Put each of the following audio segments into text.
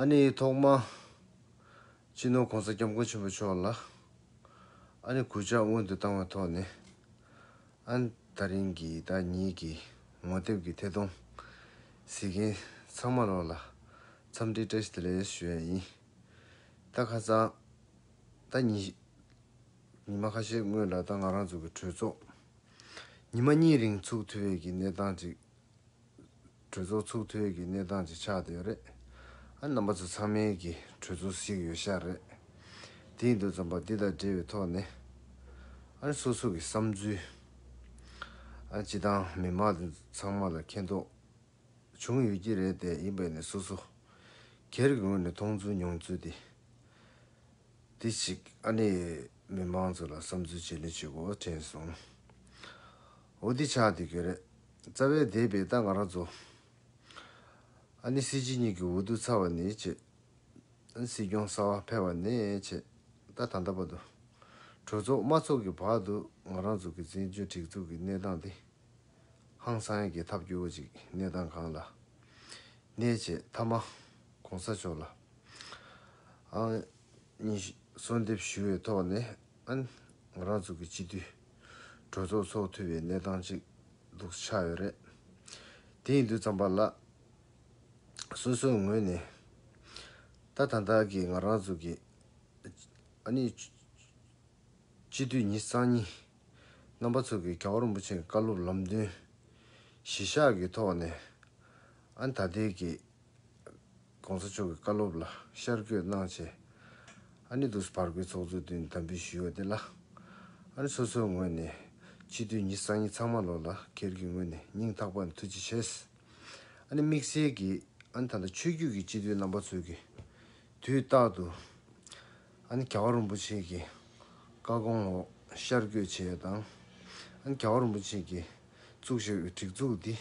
ཨ་ནི་ཐོག་མ། སྤྱི་ནོར ྋགོང་ས ྋསྐྱབས་མགོན་ཆེན་པོ་མཆོག་ལ་ཨ་ནི་གུས་ཕྱག་སྔོན་དུ་བཏང་བའི་ཐོག་ནས་ཨ་ནི་ཐག་རིང་གི་བདག་ཉིད་ཀྱི་ངོ་དེབ་ཀྱི་ཐད་གཏོང་གཟིགས་མཁན་ཚང་མ་རོགས་ལ་འཚམས་འདྲི་བཀྲ་ཤིས་བདེ་ལེགས་ཞུ་ཡ་ཡིན། ད་ཁ་ཙང། ད་ཉི་ཉི་མ་ཁ་ཤས་སྔོན་ལ་ད་ང་རང་ཚོ་གི་གྲོས་ཚོགས་ཉི་མ་གཉིས་རིང་ཚུགས་ཐུབ་འི་གི་གནས་སྟངས་ཅིག་གྲོས་ཚོགས་ཚུགས་དུས་ཀྱི་གནས་སྟངས་ཅིག་ཆགས་ཡོད་རེད། ཨ་རྣམ་པ་ཚོ་ཚང་མའི་གི་གྲོས་ཚོགས་ཤིག་ཡོད་ཤག་རེད། དེའི་འདུ་འཛོམས་པ་འདི་དང་འབྲེལ་བའི་ཐོག་ནས། ཨ་སོ་སོ་གི་བསམ་ཚུལ། ཨ་སྤྱི་དང་མི་མང་དེ་ཚང་མ་ལ་མཁྱེན་རྟོགས་བྱུང་ཡོད་ཀྱི་རེད་དེ་ཡིན་པས་ནས་སོ་སོ་གེར་གི་ངོས་ནས་མཐོང་ཚུལ་མྱོང་ཚུལ་དེ། དེ་ཞིག་ཨ་ནི་མི་མང་ཚོ་ལ་བསམ་ཚུལ་བརྗེ་ལེན་བྱེད་དགོས་བ་དྲན་སོང། འོ་འདི་ཆགས་འདི་གི་རེད། རྩ་བའི་སྡེ་པའི་རྟ་ང་ར་རྫོ། ཨ་ནི་སྲིད་སྤྱི་གཉིས་ཀྱི་འོ་དུ་ཚ་བ་ནི་བྱེད། ཨ་ནི་སྲིད་སྐྱོང་གསར་བ་ཕེ་བ་ནི་བྱེད། རྟ་དང་རྟ་པ་དུ། གྲོས་ཚོགས་དམར་ཚོགས་ཀྱི་བར་དུ་ང་རང་ཚོ་གི་བཙན་བྱོལ་སྒྲིག་འཛུགས་ཀྱི་གནས་སྟངས་དེ། ཧང་སང་གི་ཐབས་སྐྱོ་བོ་ཅིག་གནས་སྟངས་གང་ལ། ནི་བྱེད་མཐའ་མ། གོང་ས་མཆོག་ལ། ཨ་ནི་གསོལ་འདེབས་ཞུ་བའི་ཐོག་ནས་ཨ་ནི་ང་རང་ཚོ་གི་སྤྱི་འཐུས། གྲོས་ཚོགས་ཚོགས་འཐུས་པའི་གནས་སྟངས་ཅིག་འདུག་ཆགས་ཡོད་རེད། དེ་ཡིན་དུས་རྩམ་པ་ལགས། སོ་སོའི་ངོས་ནས། ད་ད་ལྟ་གི་ང་རང་ཚོ་གི། ཨ་ནི། སྤྱི་འཐུས་ཉི་གཙང་གཉིས། རྣམ་པ་ཚོ་གིས་ག་བར་མུ་ཆེན་བཀའ་སློབ་ལམ་སྟོན། གཞི་བཞག་གི་ཐོག་ནས། ཨ་ནི་ད་ལྟའི་གི། གོང་ས་མཆོག་གི་བཀའ་སློབ་ལ་ཤར་བསྐྱོད་གནང་ཆེད། ཨ་ནི་དུས་བར་བའི་ཚོགས་གཙོས་བསྟུན་དམ་འབུལ་ཞུས་ཡོད་དེ་ལ། ཨ་ནི་སོ་སོའི་ངོས་ནས་ཕྱི་དུས་ཉིད་སང་ཉིན་ཚང་མ་ལོ་ལ་ཁེར་གྱི་ངོས་ནས་སྙིང་ཐག་པ་ནས་ཐུགས་རྗེ་ཆེ། ཨ་ནི་དམིགས་བསལ་གྱིས་ཨ་ནི་ད་ལྟ་ཆོས་བརྒྱུད་ཀྱི་སྤྱི་འཐུས་རྣམ་པ་ཚོས་ཀྱི་དུས་རྟག་ཏུ་ཨ་ནི་ག་བ་རིན་པོ་ཆེ་གྱི་བཀའ་དགོངས་འོག་ཤར་བསྐྱོད་བྱས་ཡོད་དང། ཨ་ནི་ག་བ་རིན་པོ་ཆེ་གྱིས་བཙུགས་བཞེས་འོས་སྒྲིག་འཛུགས་འདི་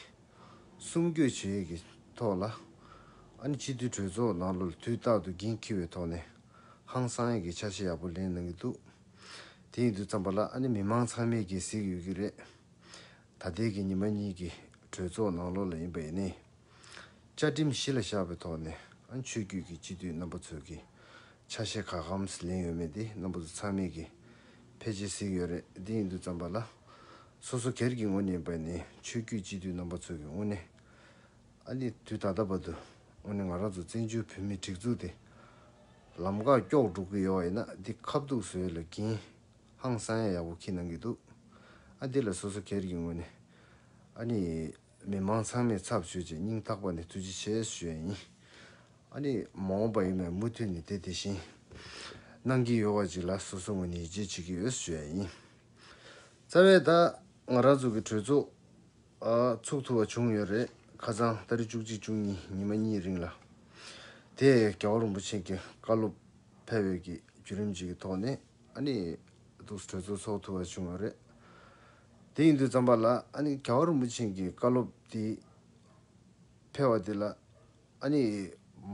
གསུམ་བསྐྱོད་བྱེད་ཡས་ཀྱི་ཐོག་ལ། ཨ་ནི་སྤྱི་འཐུས་གྲོས་ཚོགས་ནང་ལོ་དུས་རྟག་ཏུ་འགན་འཁྱེར་བའི་ཐོག་ནས། ཧང་སང་ཡས་ཀྱི་འཆར་གཞི་ཡག་པོ་ལེན་གནང་གི་འདུག་དེ་ཡིན་དུས་བརྩམས་པ་ལ་ཨ་ནི་མི་མང་ཚང་མས་གྱིས་གཟིགས་ཡོད་ཀྱི་རེད། ད་ལྟའི་གི་ཉི་མ་གཉིས་ཀྱི་གྲོས་ཚོགས་ནང་ལོ་ལ་ཡིན་པ་ཡིན་ནའི། བཅའ་ཁྲིམས་གཞི་ལ་བཞག་པའི་ཐོག་ནས་ཨ་ནི་ཆོས་བརྒྱུད་ཀྱི་སྤྱི་འཐུས་རྣམ་པ་ཚོས་ཀྱི་འཆར་གཞི་ག་གམ་ལེན་ཡོད་མེད་དེ་རྣམ་པ་ཚོ་ཚང་མས་གྱིས་ཕལ་ཆེར་གཟིགས་ཡོད་རེད་འདི་ཡིན་འདུག་བརྩམས་པ་ལ། སོ་སོ་སྒེར་གྱི་ངོ་ཉེན་པ་ནི་ཆོས་བརྒྱུད་སྤྱི་འཐུས་རྣམ་པ་ཚོ་གི་དངོས་གནས། ཨ་ནི་དུས་ད་ལྟ་བར་དུ་དངོས་གནས་ང་རང་ཚོ་བཙན་བྱོལ་བོད་མིའི་སྒྲིག་འཛུགས་དེ་ལམ་ཀག་ཀྱོག་འགྲོ་གི་ཡོད་བ་ཡིན་ན་འདི་ཁ་བརྡུག་བཟོས་ལ་གིན་ཧང་སང་ཡ་ཡག་པོ་ཁྱི་གནང་གི་འདུག་ཨ་འདི་ལ་སོ་སོ་སྒེར་གྱི་ངོས་ནས་ཨ་ནི། མི་མང་ཚང་མས་ཚབ་ཞུས་རྗེས་སྙིང་ཐག་པ་ནས་ཐུགས་རྗེ་ཆེ་ཞུ་ཡ་ཡིན། ཨ་ནི། མ་འོངས་པ་ཡིན་པས་མུ་མཐུད་ནས་དེ་དེ་བཞིན། གནང་གི་ཡོད་བ་ཅིག་ལ་སོ་སོའི་ངོས་ནས་ཡིད་ཆེས་བྱེད་ཀྱི་ཡོད་ཞུ་ཡ་ཡིན། རྩ་བའི་ད། ང་རང་ཚོ་གི་གྲོས་ཚོགས། ཚོགས་ཐུབ་བ་བྱུང་ཡོད་རེད། ཁ་ཚང་ད་རེས་བཅུ་གཅིག་བཅུ་གཉིས་ཉིན་མ་གཉིས་རིང་ལ། དེས་རྒྱལ་བ་རིན་པོ་ཆེ་གི་བཀའ་སློབ། ཕེབས་འོས་ཀྱི་བརྒྱུད་རིམ་ཅིག་གི་ཐོག་ནས་ཨ་ནི། གྲོས་ཚོགས་ཚོགས་ཐུབ་བ་བྱུང་ཡོད་རེད། དེ་ཡིན་དུས་རྩམ་པ་ལ་ཨ་ནི་ག་བ་རིན་པོ་ཆེན་གྱི་བཀའ་སློབ་དེ་ཕེལ་བ་དེ་ལ་ཨ་ནི་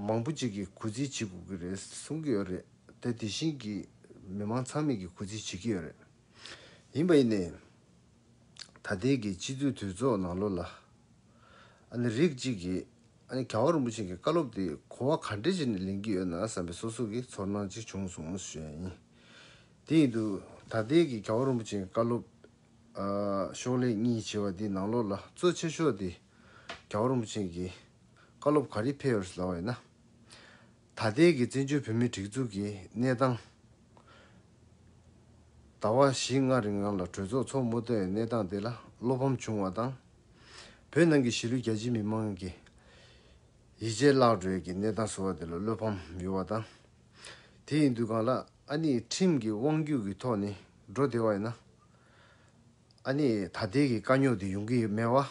མང་པོ་ཅིག་གིས་གུས་བརྩི་བྱེད་དགོས་ཀྱི་རེད་གསུང་གི་ཡོད་རེད་དེ་དེ་བཞིན་གྱི་མི་མང་ཚང་མིག་གིས་གུས་བརྩི་བྱེད་ཀྱི་ཡོད་རེད་ཡིན་པ་ཡིན་ནའི། ད་ལྟའི་གི་སྤྱི་འཐུས་དོལ་ཚོགས་ནང་ལོ་ལ་ཨ་ནི་རིགས་གཅིག་གིས་ཨ་ནི་ག་བ་རིན་པོ་ཆེན་གྱི་བཀའ་སློབ་དེ་གོ་བ་ག་འདྲས་བྱས་ནས་ལེན་གྱི་ཡོད་ན་བསམ་པའི་སོ་སོ་གི་ཚོར་སྣང་ཅིག་བྱུང་སོང་ཞེས་ཡིན་དེའི་དུས་ད་ལྟའི་གི་གའུ་རིན་པོ་ཆེའི་བཀའ་སློབ། ཤོག་ལྷེ་གཉིས་བྱེ་བ་འདི་ནང་ལོགས་ལ་གཙོ་ཆེ་ཤོག་དེ། གའུ་རིན་པོ་ཆེ་གི་བཀའ་སློབ་ག་རེ་ཕེབས་ཡོད་ལ་བས་ན། ད་ལྟའི་གི་བཙན་བྱོལ་བོད་མིའི་སྒྲིག་འཛུགས་ཀྱི་གནས་སྟངས། ཟླ་བ་བཞི་ལྔ་རིང་ནང་ལ་གྲོས་ཚོགས་འཚོགས་དམོ་བཏོན་ཡོད་གནས་སྟངས་དེ་ལ་བློ་ཕམ་བྱུང་བ་དང། བོད་ནང་གི་གཞིས་ལུས་རྒྱ་ཆེའི་མི་མང་གི། ཡིད་ཆེས་བརླག་འགྲོའི་གི་གནས་སྟངས་བཟོ་བ་དེ་ལ་བློ་ཕམ་ཡོད་བ་དང། དེ་ཡིན་དུས་གང་ལགས་ཨ་ནེས་ཁྲིམས་ཀྱི་དབང་བརྒྱུད་ཀྱི་ཐོག་ནས་འགྲོ་བདེ་བ་ཡིན་ན། ཨ་ནེས་ད་ལྟའི་གི་དཀའ་རྙོག་དེ་ཡོང་གི་མེད་བ།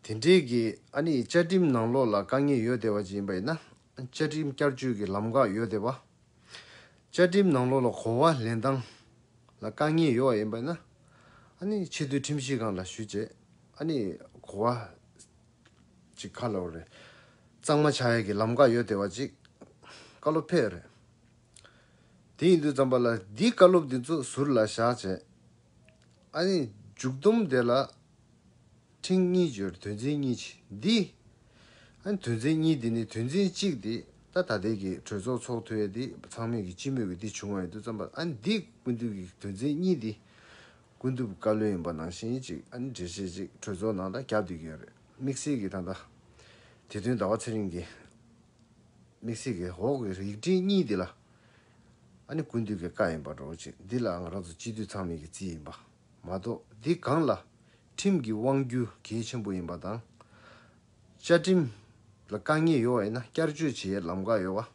དེ་འབྲེལ་གྱི་ཨ་ནེས་བཅའ་ཁྲིམས་ནང་ལོགས་ལ་དཀའ་ངལ་ཡོད་བདེ་བ་ཅིག་ཡིན་པ་ཡིན་ན། བཅའ་ཁྲིམས་བསྐྱར་བཅོས་ཀྱི་ལམ་འགག་ཡོད་བདེ་བ། བཅའ་ཁྲིམས་ནང་ལོགས་ལ་གོ་བ་ལེན་སྟངས་ལ་དཀའ་ངལ་ཡོད་བ་ཡིན་པ་ཡིན་ན། ཨ་ནེས་ཆེད་དུ་ཁྲིམས་གཞི་གང་ལ་ཞུ་བྱས་ཨ་ནེས་གོ་བ། ཅིག་ཁ་ལོ་རེད། གཙང་མ་བྱ་ཡས་ཀྱི་ལམ་ཁ་ཡོད་བདེ་བ་ཅིག། བཀའ་སློབ་ཕེབས་རེད། དེ་ཡིན་དུས་རྩམ་པ་ལ་འདིའི་བཀའ་སློབ་འདི་ཚོ་ཟུར་ལ་བཞག་བྱས། ཨ་ནི་མཇུག་བསྡོམས་དེ་ལ། ཕྲེང་གཉིས་བརྗོད་དོན་ཚན་གཉིས་ཆེ་འདི། ཨ་ནི་དོན་ཚན་གཉིས་དེ་ནི་དོན་ཚན་གཅིག་དེ་ད་ད་ལྟའི་གི་གྲོས་ཚོགས་ཚོགས་ཐོའི་དེ་ཚང་མས་གི་སྤྱི་མོས་གི་དེ་བྱུང་བ་ཡིན་དུས་རྩམ་པ་ཨ་ནི་འདི་ཀུན་འདུས་གི་དོན་ཚན་གཉིས་དེ། ཀུན་ཐུབ་བཀའ་བློན་ཡིན་པ་ནང་བཞིན་གཅིག་ཨ་ནི་འགྲེལ་བཤད་ཅིག་གྲོས་ཚོགས་ནང་ད་རྒྱབ་སྡོད་ཀྱི་ཡོད་རེད་དམིགས་བསལ་གྱི་ད་ལྟ། དེ་དོན་ཟླ་བ་ཚེ་རིང་གིས། དམིགས་བསལ་གྱི་འོག་གི་ཡིག་འབྲི་གཉིས་དེ་ལ། ཨ་ནི་ཀུན་ཐུབ་ཀྱི་བཀའ་ཡིན་པར་རོ་ཅིག་འདི་ལ་ང་རང་ཚོ་སྤྱི་འཐུས་ཚང་མེད་ཀྱི་རྩིས་ཡིན་པ་མ་གཏོགས་འདི་སྒང་ལ། ཁྲིམས་ཀྱི་དབང་བསྒྱུར་གལ་ཆེན་པོ་ཡིན་པ་དང། བཅའ་ཁྲིམས་ལ་དཀའ་ངལ་ཡོད་པ་ཡིན་ན་བསྐྱར་བཅོས་བྱེད་ལམ་ཁ་ཡོད་པ།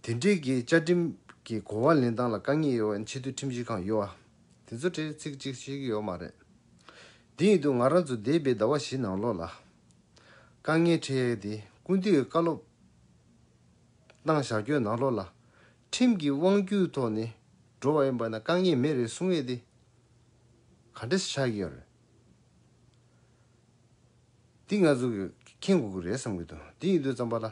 དེ་འབྲེལ་གྱི་བཅའ་ཁྲིམས་ཀྱི་གོ་བ་ལེན་སྟངས་ལ་དཀའ་ངལ་ཡོད་བ་ནི་ཆེས་མཐོའི་ཁྲིམས་ཞིབ་ཁང་ཡོད་བ། དེ་ཚོ་གྲས་ཚིག་གཅིག་ཤེས་ཀྱི་ཡོད་མ་རེད། དེ་ཡིན་དུས་ང་རང་ཚོ་འདས་པའི་ཟླ་བ་བཞི་ནང་ལོགས་ལ། དཀའ་ངལ་འཕྲད་ཡས་དེ་ཀུན་བཏུས་བཀའ་སློབ་གནང་བཞག་ཁྱོད་ནང་ལོགས་ལ། ཁྲིམས་ཀྱི་དབང་བསྒྱུར་ཐོག་ནས་འགྲོ་བ་ཡིན་པ་ན་དཀའ་ངལ་མེད་རེད་གསུང་ཡས་དེ། ག་འདྲ་ཆགས་ཀྱི་ཡོད་རེད། འདི་ང་ཚོ་མཁྱེན་དགོས་ཀྱི་རེད་བསམ་གྱི་འདུག་དེ་ཡིན་དུས་རྩམ་པ་ལ།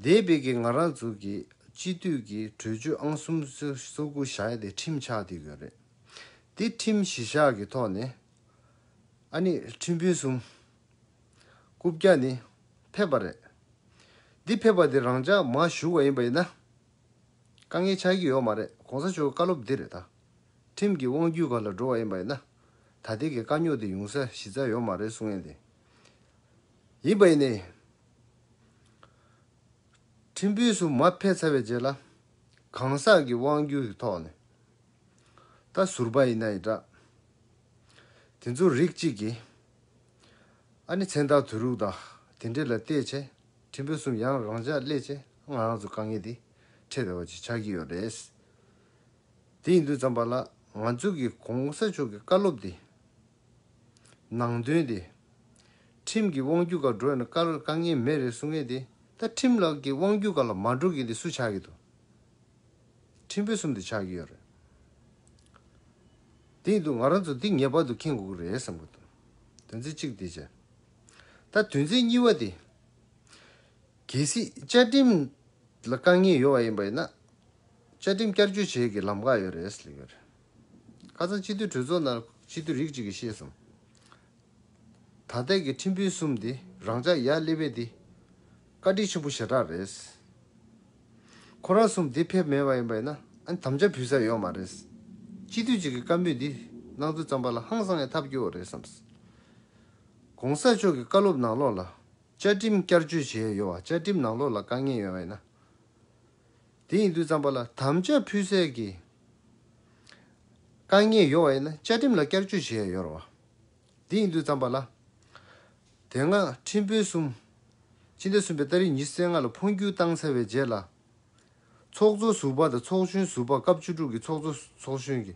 འདས་པའི་གི་ང་རག་འཛུགས་ཀྱི་སྤྱི་འཐུས་ཀྱི་གྲོས་ཆོད་ཨང་གསུམ་སོ་དགུ་བཞག་སྟེ་ཁྲིམས་ཆགས་འདི་ཡོད་རེད། འདི་ཁྲིམས་གཞི་བཞག་གི་ཐོག་ནས་ཨ་ནི་ཁྲིམས་དཔོན་གསུམ། དགུ་བརྒྱ་ནི་ཕེབས་པ་རེད། འདི་ཕེབས་པ་འདི་རང་ཅག་མ་ཞུགས་བ་ཡིན་པ་ཡིན་ན། དཀའ་ངལ་ཆགས་ཀྱི་ཡོད་མ་རེད་གོང་ས་མཆོག་གི་བཀའ་སློབ་འདི་རེད་ད། ཁྲིམས་ཀྱི་དབང་བརྒྱུད་ག་ལ་འགྲོ་བ་ཡིན་པ་ཡིན་ན། ད་ལྟའི་གི་དཀའ་རྙོག་འདི་ཡོང་ས་གཞི་རྩ་ཡོད་མ་རེད་གསུང་ཡས་འདི་ཡིན་པ་ཡིན་ནའི། ཁྲིམས་དཔོན་སུ་མ་ཕེབས་ཚར་བའི་རྗེས་ལ། གང་ཟག་གི་དབང་བསྒྱུར་གྱི་ཐོག་ནས། ད་ཟུར་པ་ཡིན་ན་ཡི་དྲག། དེ་ཚོ་རིགས་གཅིག་གི། ཨ་ནི་མཚན་རྟགས་དུས་རུག་དང་དེ་འདྲས་ལ་བལྟས་ཆེ་ཁྲིམས་དཔོན་གསུམ་ཡང་རང་ཅག་སླེ་ཆེ་ང་རང་ཚོ་དཀའ་ངལ་དེ་འཕྲད་བའི་བ་ཅི་ཆགས་ཀྱི་ཡོད་རེད། དེ་ཡིན་དུས་ཙམ་པ་ལ་ང་ཚོ་གི་གོང་ས་མཆོག་གི་བཀའ་སློབ་དེ། ནང་དོན་དེ། ཁྲིམས་ཀྱི་དབང་བསྒྱུར་ག་འགྲོ་ཡང་ན་དཀའ་རུ་དཀའ་ངེས་མེད་རེད་གསུང་མཁན་དེ་ད་ཁྲིམས་ལགས་ཀྱི་དབང་བསྒྱུར་ག་ལ་མ་འགྲོ་མཁན་དེ་སུ་ཆགས་ཀྱི་འདུག་ཁྲིམས་དཔོན་གསུམ་དེ་ཆགས་ཀྱི་ཡོད་རེད། དེ་འདུག་ང་རང་ཚོ་འདི་ངེས་པར་དུ་མཁྱེན་དགོས་ཀྱི་རེད་བསམ་གྱི་འདུག་དོན་ཚན་གཅིག་དེ་བྱས། ད་དོན་ཚན་གཉིས་པ་དེ། གལ་སྲིད་བཅའ་ཁྲིམས་ལ་དཀའ་ངལ་ཡོད་པ་ཡིན་པ་ཡིན་ན། བཅའ་ཁྲིམས་བསྐྱར་བཅོས་བྱེད་ཀྱི་ལམ་ག་ཡོད་རེད་ཟེར་ཡོད་རེད། ཁ་སང་སྤྱི་འཐུས་གྲོས་ཚོགས་ནང་སྤྱི་འཐུས་རིགས་གཅིག་གིས་བཤད་སོང། ད་ལྟའི་གི་ཁྲིམས་དཔོན་གསུམ་དེ་རང་ཅག་ཡར་སླེབས་བས་དེ་བཀའ་ཁྲི་ཆེན་པོ་ཞེ་དྲག་རེད། ཁོ་རང་གསུམ་དེ་ཕེབས་མེད་པ་ཡིན་པ་ཡིན་ན་ཨ་དམ་བཅའ་ཕུལ་ས་ཡོད་མ་རེད། སྤྱི་འཐུས་གཅིག་གི་བཀའ་འབོད་འདི་གནང་ཚུལ་བརྩམས་པ་ལ་ཧང་སང་ཡང་ཐབས་སྐྱོ་བོ་རེད་བསམ། གོང་ས་མཆོག་གི་བཀའ་སློབ་ནང་ལོགས་ལ་བཅའ་ཁྲིམས་བསྐྱར་བཅོས་བྱས་ཡོད་བ་བཅའ་ཁྲིམས་ནང་ལོགས་ལ་དཀའ་ངལ་ཡོད་བ་ཡིན་ན། དེ་ཡིན་དུས་བརྩམས་པ་ལ་དམ་བཅའ་ཕུལ་སེལ་གྱི་དཀའ་ངལ་ཡོད་པ་ཡིན་ན་བཅའ་ཁྲིམས་ལ་བསྐྱར་བཅོས་བྱེད་ཡ་ཡོད་རེད། དེ་ཡིན་དུས་བརྩམས་པ་ལ། དེ་སྔ་ཁྲིམས་དཔོན་གསུམ། སྤྱི་ཟླ་གསུམ་པའི་སྟ་རེ་ཉི་ཟེར་ལྔ་ལ་འཕོ་འགྱུར་བཏང་ཚར་བའི་རྗེས་ལ། ཚོགས་གཙོ་ཟུར་པ་དང་ཚོགས་གཞོན་ཟུར་པ་སྐབས་བཅུ་དྲུག་གི་ཚོགས་གཙོ་ཚོགས་གཞོན་གྱི་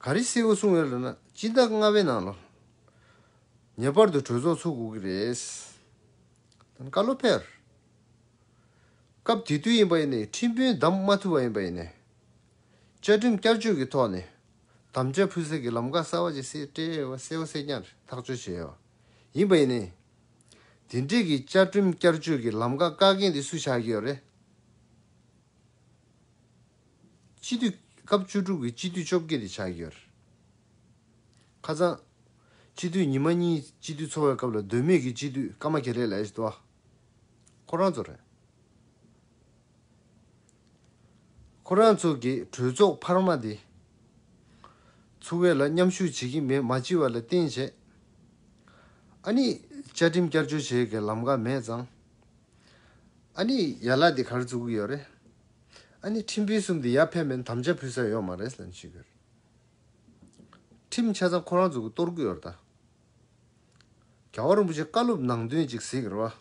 ག་རེ་སེལ་དགོས་གསུངས་ཡོད་རེད་ན་སྤྱི་ཟླ་ལྔ་བའི་ནང་ལོངས་པར་དུ་གྲོས་ཚོགས་ཚུགས་དགོས་ཀྱི་རེད། བཀའ་སློབ་ཕེར། སྐབས་དེ་དུས་ཡིན་པ་ཡིན་ནས་ཁྲིམས་དཔོན་བདམས་མ་ཐུབ་པ་ཡིན་པ་ཡིན་ནས། བཅའ་ཁྲིམས་བསྐྱར་བཅོས་ཀྱི་ཐོག་ནས་དམ་བཅའ་ཕུལ་སེལ་གྱི་ལམ་ཁ་གསར་བ་ཅིག་སེ་ཏྲེ་ཨེ་བ་སེ་བ་སེ་ཀྱང་རེད་ཐག་གཅོད་བྱས་ཡོད་པ་ཡིན་པ་ཡིན་ནས། དེ་འབྲེལ་གྱི་བཅའ་ཁྲིམས་བསྐྱར་བཅོས་ཀྱི་ལམ་ཁ་བཀག་མཁན་དེ་སུ་ཆགས་ཀྱི་ཡོད་རེད། སྤྱི་འཐུས། སྐབས་བཅུ་དྲུག་གི་སྤྱི་འཐུས་བཅོ་བརྒྱད་དེ་ཆགས་ཀྱི་ཡོད་རེད། ཁ་ཚང། སྤྱི་འཐུས་ཉི་མ་གཉིས་སྤྱི་འཐུས་འཚོ་བའི་སྐབས་ལ་འདོད་མོས་ཀྱི་སྤྱི་འཐུས་ཀརྨ་གྷེ་རེ་ལས་ཨེ་ཟེར་ཏོ། ཁོ་རང་ཚོ་རེད། ཁོ་རང་ཚོ་གིས་གྲོས་ཚོགས་འཕར་མ་འདི་ཚུགས་བའི་ལ་མཉམ་ཞུགས་བྱེད་ཀྱི་མེད་མ་ཅི་བ་ལ་བརྟེན་བྱས་ཨ་ནི་བཅའ་ཁྲིམས་བསྐྱར་བཅོས་བྱེད་དགེ་ལམ་འགའ་མེད་ཙང་ཨ་ནི་ཡ་ལ་འདི་གར་བཙུགས་གི་ཡོད་རེད་ཨ་ནི་ཁྲིམས་དཔོན་གསུམ་འདི་ཡར་ཕེབས་མིན་དམ་བཅའ་ཕུལ་ས་ཡོད་མ་རེད་ལན་ཞུས་གི་རེད་ཁྲིམས་ཆ་ཚང་ཁོ་རང་ཚོ་གིས་གཏོར་གི་ཡོད་རེད་ད། རྒྱལ་བ་རིན་པོ་ཆེ་བཀའ་སློབ་ནང་དོན་ཅིག་གཟིགས་རོགས།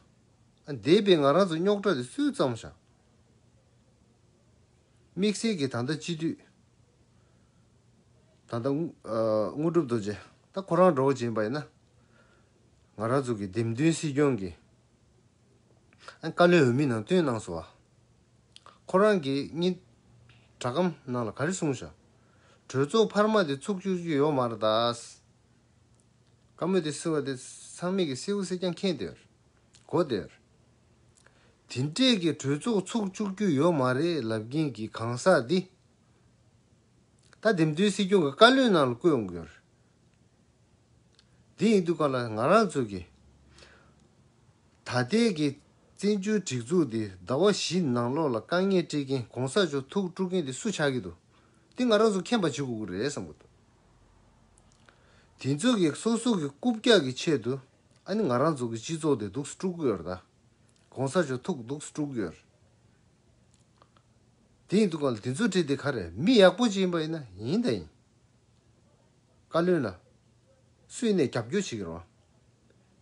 འདས་པའི་ང་རང་ཚོ་རྙོག་དྲ་དེ་སུས་བརྩམས་ཤག། དམིགས་བསལ་གྱི་ད་ལྟ་སྤྱི་འཐུས། ད་ལྟ། དངོས་གྲུབ་རྡོ་རྗེ། ད་ཁོ་རང་གྲོགས་བྱེད་པ་ཡིན་ན། ང་རང་ཚོ་གི་འདེམས་ཐོན་སྲིད་སྐྱོང་གི། བཀའ་བློན་འོས་མི་ནང་བཏོན་གནང་སོ། ཁོ་རང་གི་གཉིས། དྲ་གམ་ནང་ལ་ག་རེ་གསུངས་ཤག། གྲོས་ཚོགས་འཕར་མ་དེ་ཚུགས་བཅུག་རྒྱུ་ཡོག་མ་རེད་ད། བཀའ་མོས་དེ་བསིལ་བ་དེ་ཚང་མིག་གིས་སེའུ་སེ་ཀྱང་ཁེངས་སྡོད། གོ་སྡོད། དེ་འདྲས་ཀྱི་གྲོས་ཚོགས་ཚུགས་བཅུག་རྒྱུ་ཡོད་མ་རེད་ལབ་མཁན་གྱི་གང་ཟག་འདི། ད་འདེམས་ཐོན་སྲིད་སྐྱོང་གི་བཀའ་བློན་ནང་ལ་བསྐོས་འོང་གི་ཡོད་རེད། འདི་ཡིན་དུས་ག་ལ་ང་རང་ཚོས་ཀྱི། ད་ལྟའི་གི་བཙན་བྱོལ་སྒྲིག་འཛུགས་འདི་ཟླ་བ་བཞི་ནང་ལོག་ལ་དཀའ་ངལ་སྤྲད་མཁན་གོང་ས་མཆོག་ཐུགས་དཀྲུག་མཁན་དེ་སུ་ཆགས་ཀྱི་འདུག་དེ་ང་རང་ཚོ་མཁྱེན་པ་བྱེད་དགོས་ཀྱི་རེད་བསམ་གྱི་འདུག། དེ་ཚོ་གི་སོ་སོ་གི་རྐུབ་བཀྱག་གི་ཆེད་དུ་ཨ་ནི་ང་རང་ཚོ་གི་སྤྱི་ཚོགས་དེ་སྡུག་སྤྲུག་གི་ཡོད་རེད། གོང་ས་མཆོག་ཐུགས་སྡུག་སྤྲུག་གི་ཡོད་རེད། དེ་ཡིན་དུས་གང་ལ་དེ་ཚོ་བྲིས་དེ་ག་རེད་མི་ཡག་པོ་ཅིག་ཡིན་པ་ཡིན་ན་ཡིན་ད་ཡིན། བཀའ་བློན་ལ། སུ་ཡིན་ནས་རྒྱབ་སྐྱོར་བྱེད་ཀྱི་རོགས།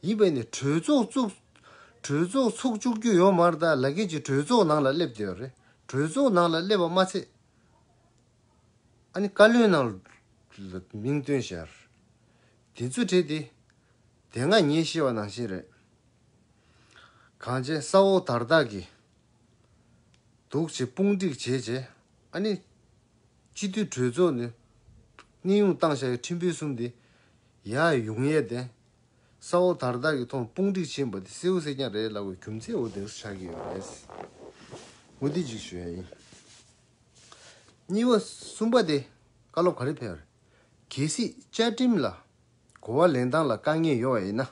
ཡིན་པ་ཡིན་ནས་གྲོས་ཚོགས་བཙུགས། གྲོས་ཚོགས་ཚུགས་བཅུག་རྒྱུ་ཡོད་མ་རེད་ད་ལ་ཁྱེད་ཀྱི་གྲོས་ཚོགས་ནང་ལ་སླེབས་དེ་ཡོད་རེད་གྲོས་ཚོགས་ནང་ལ་སླེབས་པ་མ་ཚད། ཨ་ནི་བཀའ་བློན་ནང་ལ་མིང་བཏོན་ཞར། དེ་ཚུ་དྲེད་དེ། དེ་སྔ་ངེད་ཤེས་བ་ནང་བཞིན་རེད། གང་བྱས་ས་འོག་དར་བདག་གིས། འདུག་བྱེད་དཔུང་སྒྲིག་བྱས་བྱས་ཨ་ནི། སྤྱི་འཐུས་གྲོས་ཚོགས་ནས། གནས་དབྱུང་བཏང་ཤར་ཡོད་ཁྲིམས་དཔོན་གསུམ་དེ། ཡག་ཡོང་ཡས་དེ། ས་འོག་དར་བདག་གིས་ཐོངས་དཔུང་སྒྲིག་བྱས་འབའ་དེ་སེའུ་སེ་རྐྱང་རེད་ལབ་བའི་རྒྱུ་མཚན་འོ་དེ་ཚོ་ཆགས་ཀྱི་ཡོད་རེད། འོ་དེ་གཅིག་ཞུ་ཡ་ཡིན། གཉིས་པ་གསུམ་པ་དེ་བཀའ་སློབ་ག་རེ་ཕེབས་རེད། གལ་སྲིད་བཅའ་ཁྲིམས་ལ་གོ་བ་ལེན་སྟངས་ལ་དཀའ་ངལ་ཡོད་བ་ཡིན་ན།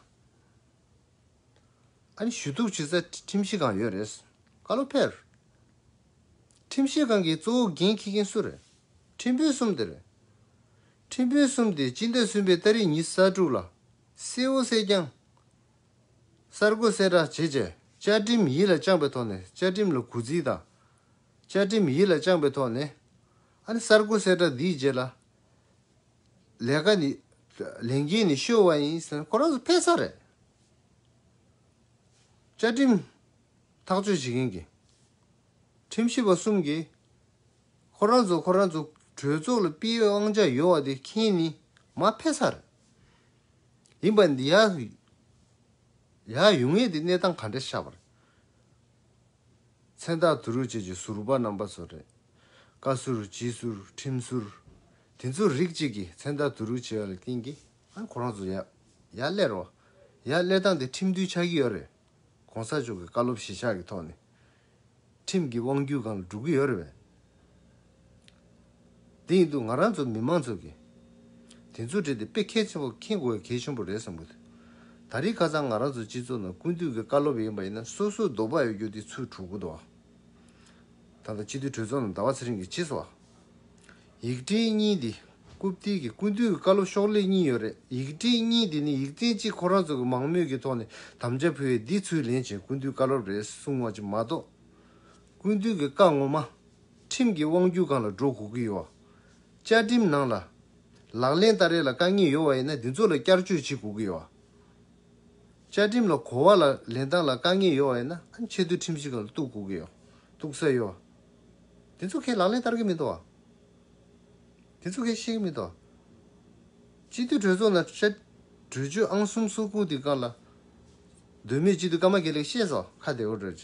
ཨ་རི་ཞུ་གཏུག་བྱེད་ས་ཁྲིམས་ཞིབ་ཁང་ཡོད་རེད། བཀའ་སློབ་ཕེབས་རེད། ཁྲིམས་ཞིབ་ཁང་གི་གཙོ་བོ་འགན་འཁྱེར་མཁན་སུ་རེད། ཁྲིམས་དཔོན་གསུམ་དེ་རེད། ཁྲིམས་དཔོན་གསུམ་དེ་སྤྱི་ཟླ་གསུམ་པའི་སྟ་རེ་ཉིན་གསར་དཀྲུགས་ལ་གསལ་བོ་གསལ་རྐྱང། གསར་འགོད་གསལ་བསྒྲགས་བྱེད་བྱས་བཅའ་ཁྲིམས་ཡིད་ལ་བཅངས་པའི་ཐོག་ནས་བཅའ་ཁྲིམས་ལ་གུས་བརྩི་དང། བཅའ་ཁྲིམས་ཡིད་ལ་བཅངས་པའི་ཐོག་ནས། ཨ་ནི་གསར་འགོད་གསལ་བསྒྲགས་འདིའི་རྗེས་ལ། ལས་ཀ་ནི། ལས་འགན་ནི་ཤོར་བ་ཡིན་ཟེར་ན་ཁོ་རང་ཚོ་ཕལ་ཆེར་རེད། བཅའ་ཁྲིམས་ཐག་གཅོད་བྱེད་མཁན་གྱི། ཁྲིམས་ཞིབ་པ་གསུམ་གྱིས། ཁོ་རང་ཚོ་ཁོ་རང་ཚོ་གྲོས་ཚོགས་ལ་སྤེལ་ཡོད་དབང་ཆ་ཡོད་བ་དེ་མཁྱེན་ནི་མ་ཕལ་ཆེར་རེད། ཡིན་པ་འདི་ཡག་ཡོད་ངེས་དེ་གནས་སྟངས་ག་འདྲ་ཤར་བ་རེད། མཚན་རྟགས་དུ་རུ་བཅས་ཀྱི་ཟུར་པ་རྣམ་པ་ཚོ་རེད། བཀའ་ཟུར་སྤྱི་ཟུར་ཁྲིམས་ཟུར། དེ་ཚོ་རིགས་གཅིག་གིས་མཚན་རྟགས་དུ་རུ་བྱས་པ་ལ་བརྟེན་གྱི་ཨང་ཁོ་རང་ཚོ་ཡག་ཡག་སླེ་རོ། ཡག་སླེ་སྟངས་དེ་ཁྲིམས་མཐུན་ཆགས་ཀྱི་ཡོད་རེད། གོང་ས་མཆོག་གི་བཀའ་སློབ་གཞིས་ཆགས་ཀྱི་ཐོག་ནས། ཁྲིམས་ཀྱི་དབང་བརྒྱུད་གང་ལ་འགྲོ་གི་ཡོད་རེད་བས། དེ་ཡིན་དུས་ང་རང་ཚོ་མི་མང་ཚོས་གི་དེ་ཚོ་བྲིས་ཏེ་དཔེ་གལ་ཆེན་པོ་མཁྱེན་དགོས་གལ་ཆེན་པོ་རེད་བསམ་གི་འདུག་ད་རིས་ཁ་ཚང་ང་རང་ཚོ་སྤྱི་ཚོགས་ནང་ཀུན་ཏུ་གི་བཀའ་སློབ་ཡིན་པ་ཡིན་ན་སོ་སོའི་རྡོག་པ་ཡོད་རྒྱུ་དེ་ཚོའི་དྲུག་གུ་དོག་ད་ལྟ་སྤྱི་འཐུས་གྲོས་ཚོགས་ནང་ཟླ་བ་ཚེ་རིང་གིས་ཇི་སོགས་ཡིག་འབྲེལ་གཉིས་འདི་རྐུབ་སྟེགས་ཀྱི་ཀུན་ཏུ་གི་བཀའ་སློབ་ཤོག་ལྷེ་གཉིས་ཡོད་རེད་ཡིག་འབྲེལ་གཉིས་འདི་ནི་ཡིག་ཚན་གཅིག་ཁོ་རང་ཚོ་གི་མང་མོས་ཀྱི་ཐོག་ནས་དམ་བཅའ་ཕུལ་བའི་འདི་ཚོའི་ལན་བྱིན་ཀུན་ཏུ་བཀའ་སློབ་རེད་གསུང་བ་ཅིག་མ་གཏོགས། སྐུ་མདུན་གྱི་བཀའ་ངོ་མ། ཁྲིམས་ཀྱི་དབང་བསྒྱུར་གང་ལ་འགྲོ་དགོས་ཀྱི་ཡོད། བཅའ་ཁྲིམས་ནང་ལ། ལག་ལེན་ལྟར་རེ་ལ་དཀའ་ངལ་ཡོད་བ་ཡིན་ན་དེ་ཚོ་ལ་བསྐྱར་བཅོས་བྱེད་དགོས་ཀྱི་ཡོད། བཅའ་ཁྲིམས་ལ་གོ་བ་ལ་ལེན་སྟངས་ལ་དཀའ་ངལ་ཡོད་བ་ཡིན་ན་ཆེས་མཐོའི་ཁྲིམས་གཞི་གང་ལ་གཏུགས་དགོས་ཀྱི་ཡོད་གཏུགས་ས་ཡོད། དེ་ཚོ་ཁྱེད་ལག་ལེན་བསྟར་གྱི་མི་འདུག། དེ་ཚོ་ཁྱེད་ཤེས་ཀྱི་མི་འདུག། སྤྱི་འཐུས་གྲོས་ཚོགས་ནང་བཅའ། གྲོས་ཆོད་ཨང་གསུམ་སོ་དགུ་དེ་གང་ལ། དོན་མེད་སྤྱི་འཐུས་ཀརྨ་དགེ་ལེགས་བཤད་སོགས་ཁ་བདེ་བོ་བགྲོས།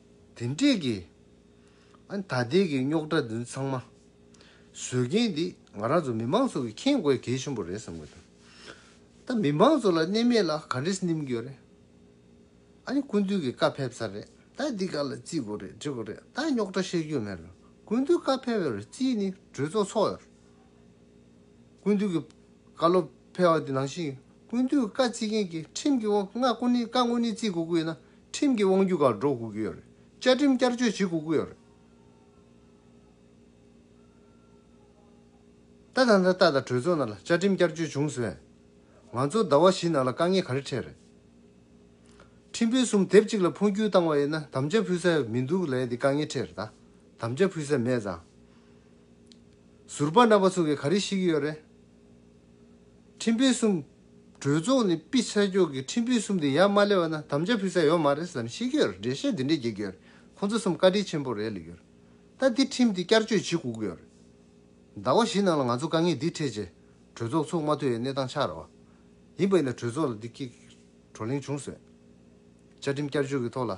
དེ་འདྲས་ཀྱི། ཨ་ད་ལྟའི་གི་རྙོག་དྲ་འདི་ཚང་མ། བཟོས་མཁན་འདི་ང་རང་ཚོ་མི་མང་ཚོ་གི་མཁྱེན་དགོས་གལ་ཆེན་པོ་རེད་བསམ་གི་འདུག་ད་མི་མང་ཚོ་ལ་གནས་མེད་ལ་ག་འདྲས་སྣིམ་རྒྱུ་རེད། ཨ་ནི་ཀུན་འདུས་གི་བཀའ་ཕེབས་ཚར་རེད་ད་འདི་ག་ལ་རྩིས་དགོས་རེད་འདྲི་དགོས་རེད་ད་རྙོག་དྲ་བཤད་རྒྱུ་མེད་རེད་ཀུན་འདུས་བཀའ་ཕེབས་ཡོད་རེད་རྩིས་ནི་གྲོས་ཚོགས་ཚོགས་ཡོད་རེད། ཀུན་འདུས་གི་བཀའ་སློབ་ཕེབས་བ་འདི་ནང་བཞིན་ཀུན་འདུས་བཀའ་རྩིས་མཁན་གི་ཁྲིམས་ཀྱི་དབང་ང་ཀུན་ནི་བཀའ་དངོས་ནི་རྩིས་དགོས་ཀྱི་ཡོད་ན་ཁྲིམས་ཀྱི་དབང་རྒྱུད་ཁག་སྒྲོག་དགོས་ཀྱི་ཡོད་རེད། བཅའ་ཁྲིམས་བསྐྱར་བཅོས་བྱེད་དགོས་ཀྱི་ཡོད་རེད། ད་ད་ལྟ་ད་ལྟ་གྲོས་ཚོགས་ནང་ལ་བཅའ་ཁྲིམས་བསྐྱར་བཅོས་བྱུང་ཟེར་བས། ང་ཚོ་ཟླ་བ་བཞི་ནང་ལ་དཀའ་ངལ་ག་རེ་འཕྲད་རེད། ཁྲིམས་དཔོན་གསུམ་དེབ་གཅིག་ལ་འཕོ་འགྱུར་བཏང་བ་ཡིན་ན་དམ་བཅའ་ཕུལ་ས་མི་འདུག་ལས་འདི་དཀའ་ངལ་འཕྲད་རེད་ད། དམ་བཅའ་ཕུལ་ས་མེད་ཙང། ཟུར་པ་རྣམ་པ་ཚོ་གིས་ག་རེ་ཤེས་ཀྱི་ཡོད་རེད། ཁྲིམས་དཔེ་གསུམ། གྲོས་ཚོགས་ནས་དཔེ་ཆ་འཇོག་གི་ཁྲིམས་དཔེ་གསུམ་དེ་ཡར་མ་སླེབས་བ་ན་དམ་བཅའ་ཕུལ་ས་ཡོད་མ་རེད་བསམ་ཤེས་ཀྱི་ཡོད་རེད་འགྲེལ་བཤད་འདི་འདྲས་རྒྱག་གི་ཡོད་རེད་ཁོང་ཚོ་གསུམ་བཀའ་དྲིན་ཆེན་པོ་རེད་ལ་ཡོད་རེད་ད་དེ་ཁྲིམས་དེ་བསྐྱར་བཅོས་བྱེད་དགོས་ཀྱི་ཡོད་རེད་ཟླ་བ་བཞི་ནང་ལ་ང་ཚོ་དཀའ་ངལ་འདི་འཕྲད་རྗེས་གྲོས་ཚོགས་ཚུགས་མ་ཐུབ་བའི་གནས་སྟངས་ཆགས་རེད་བ་ཡིན་པ་ཡིན་ན་གྲོས་ཚོགས་ལ་འདི་སྐད་བགྲོ་གླེང་བྱུང་བཟོད་བཅའ་ཁྲིམས་བསྐྱར་བཅོས་ཀྱི་ཐོག་ལ་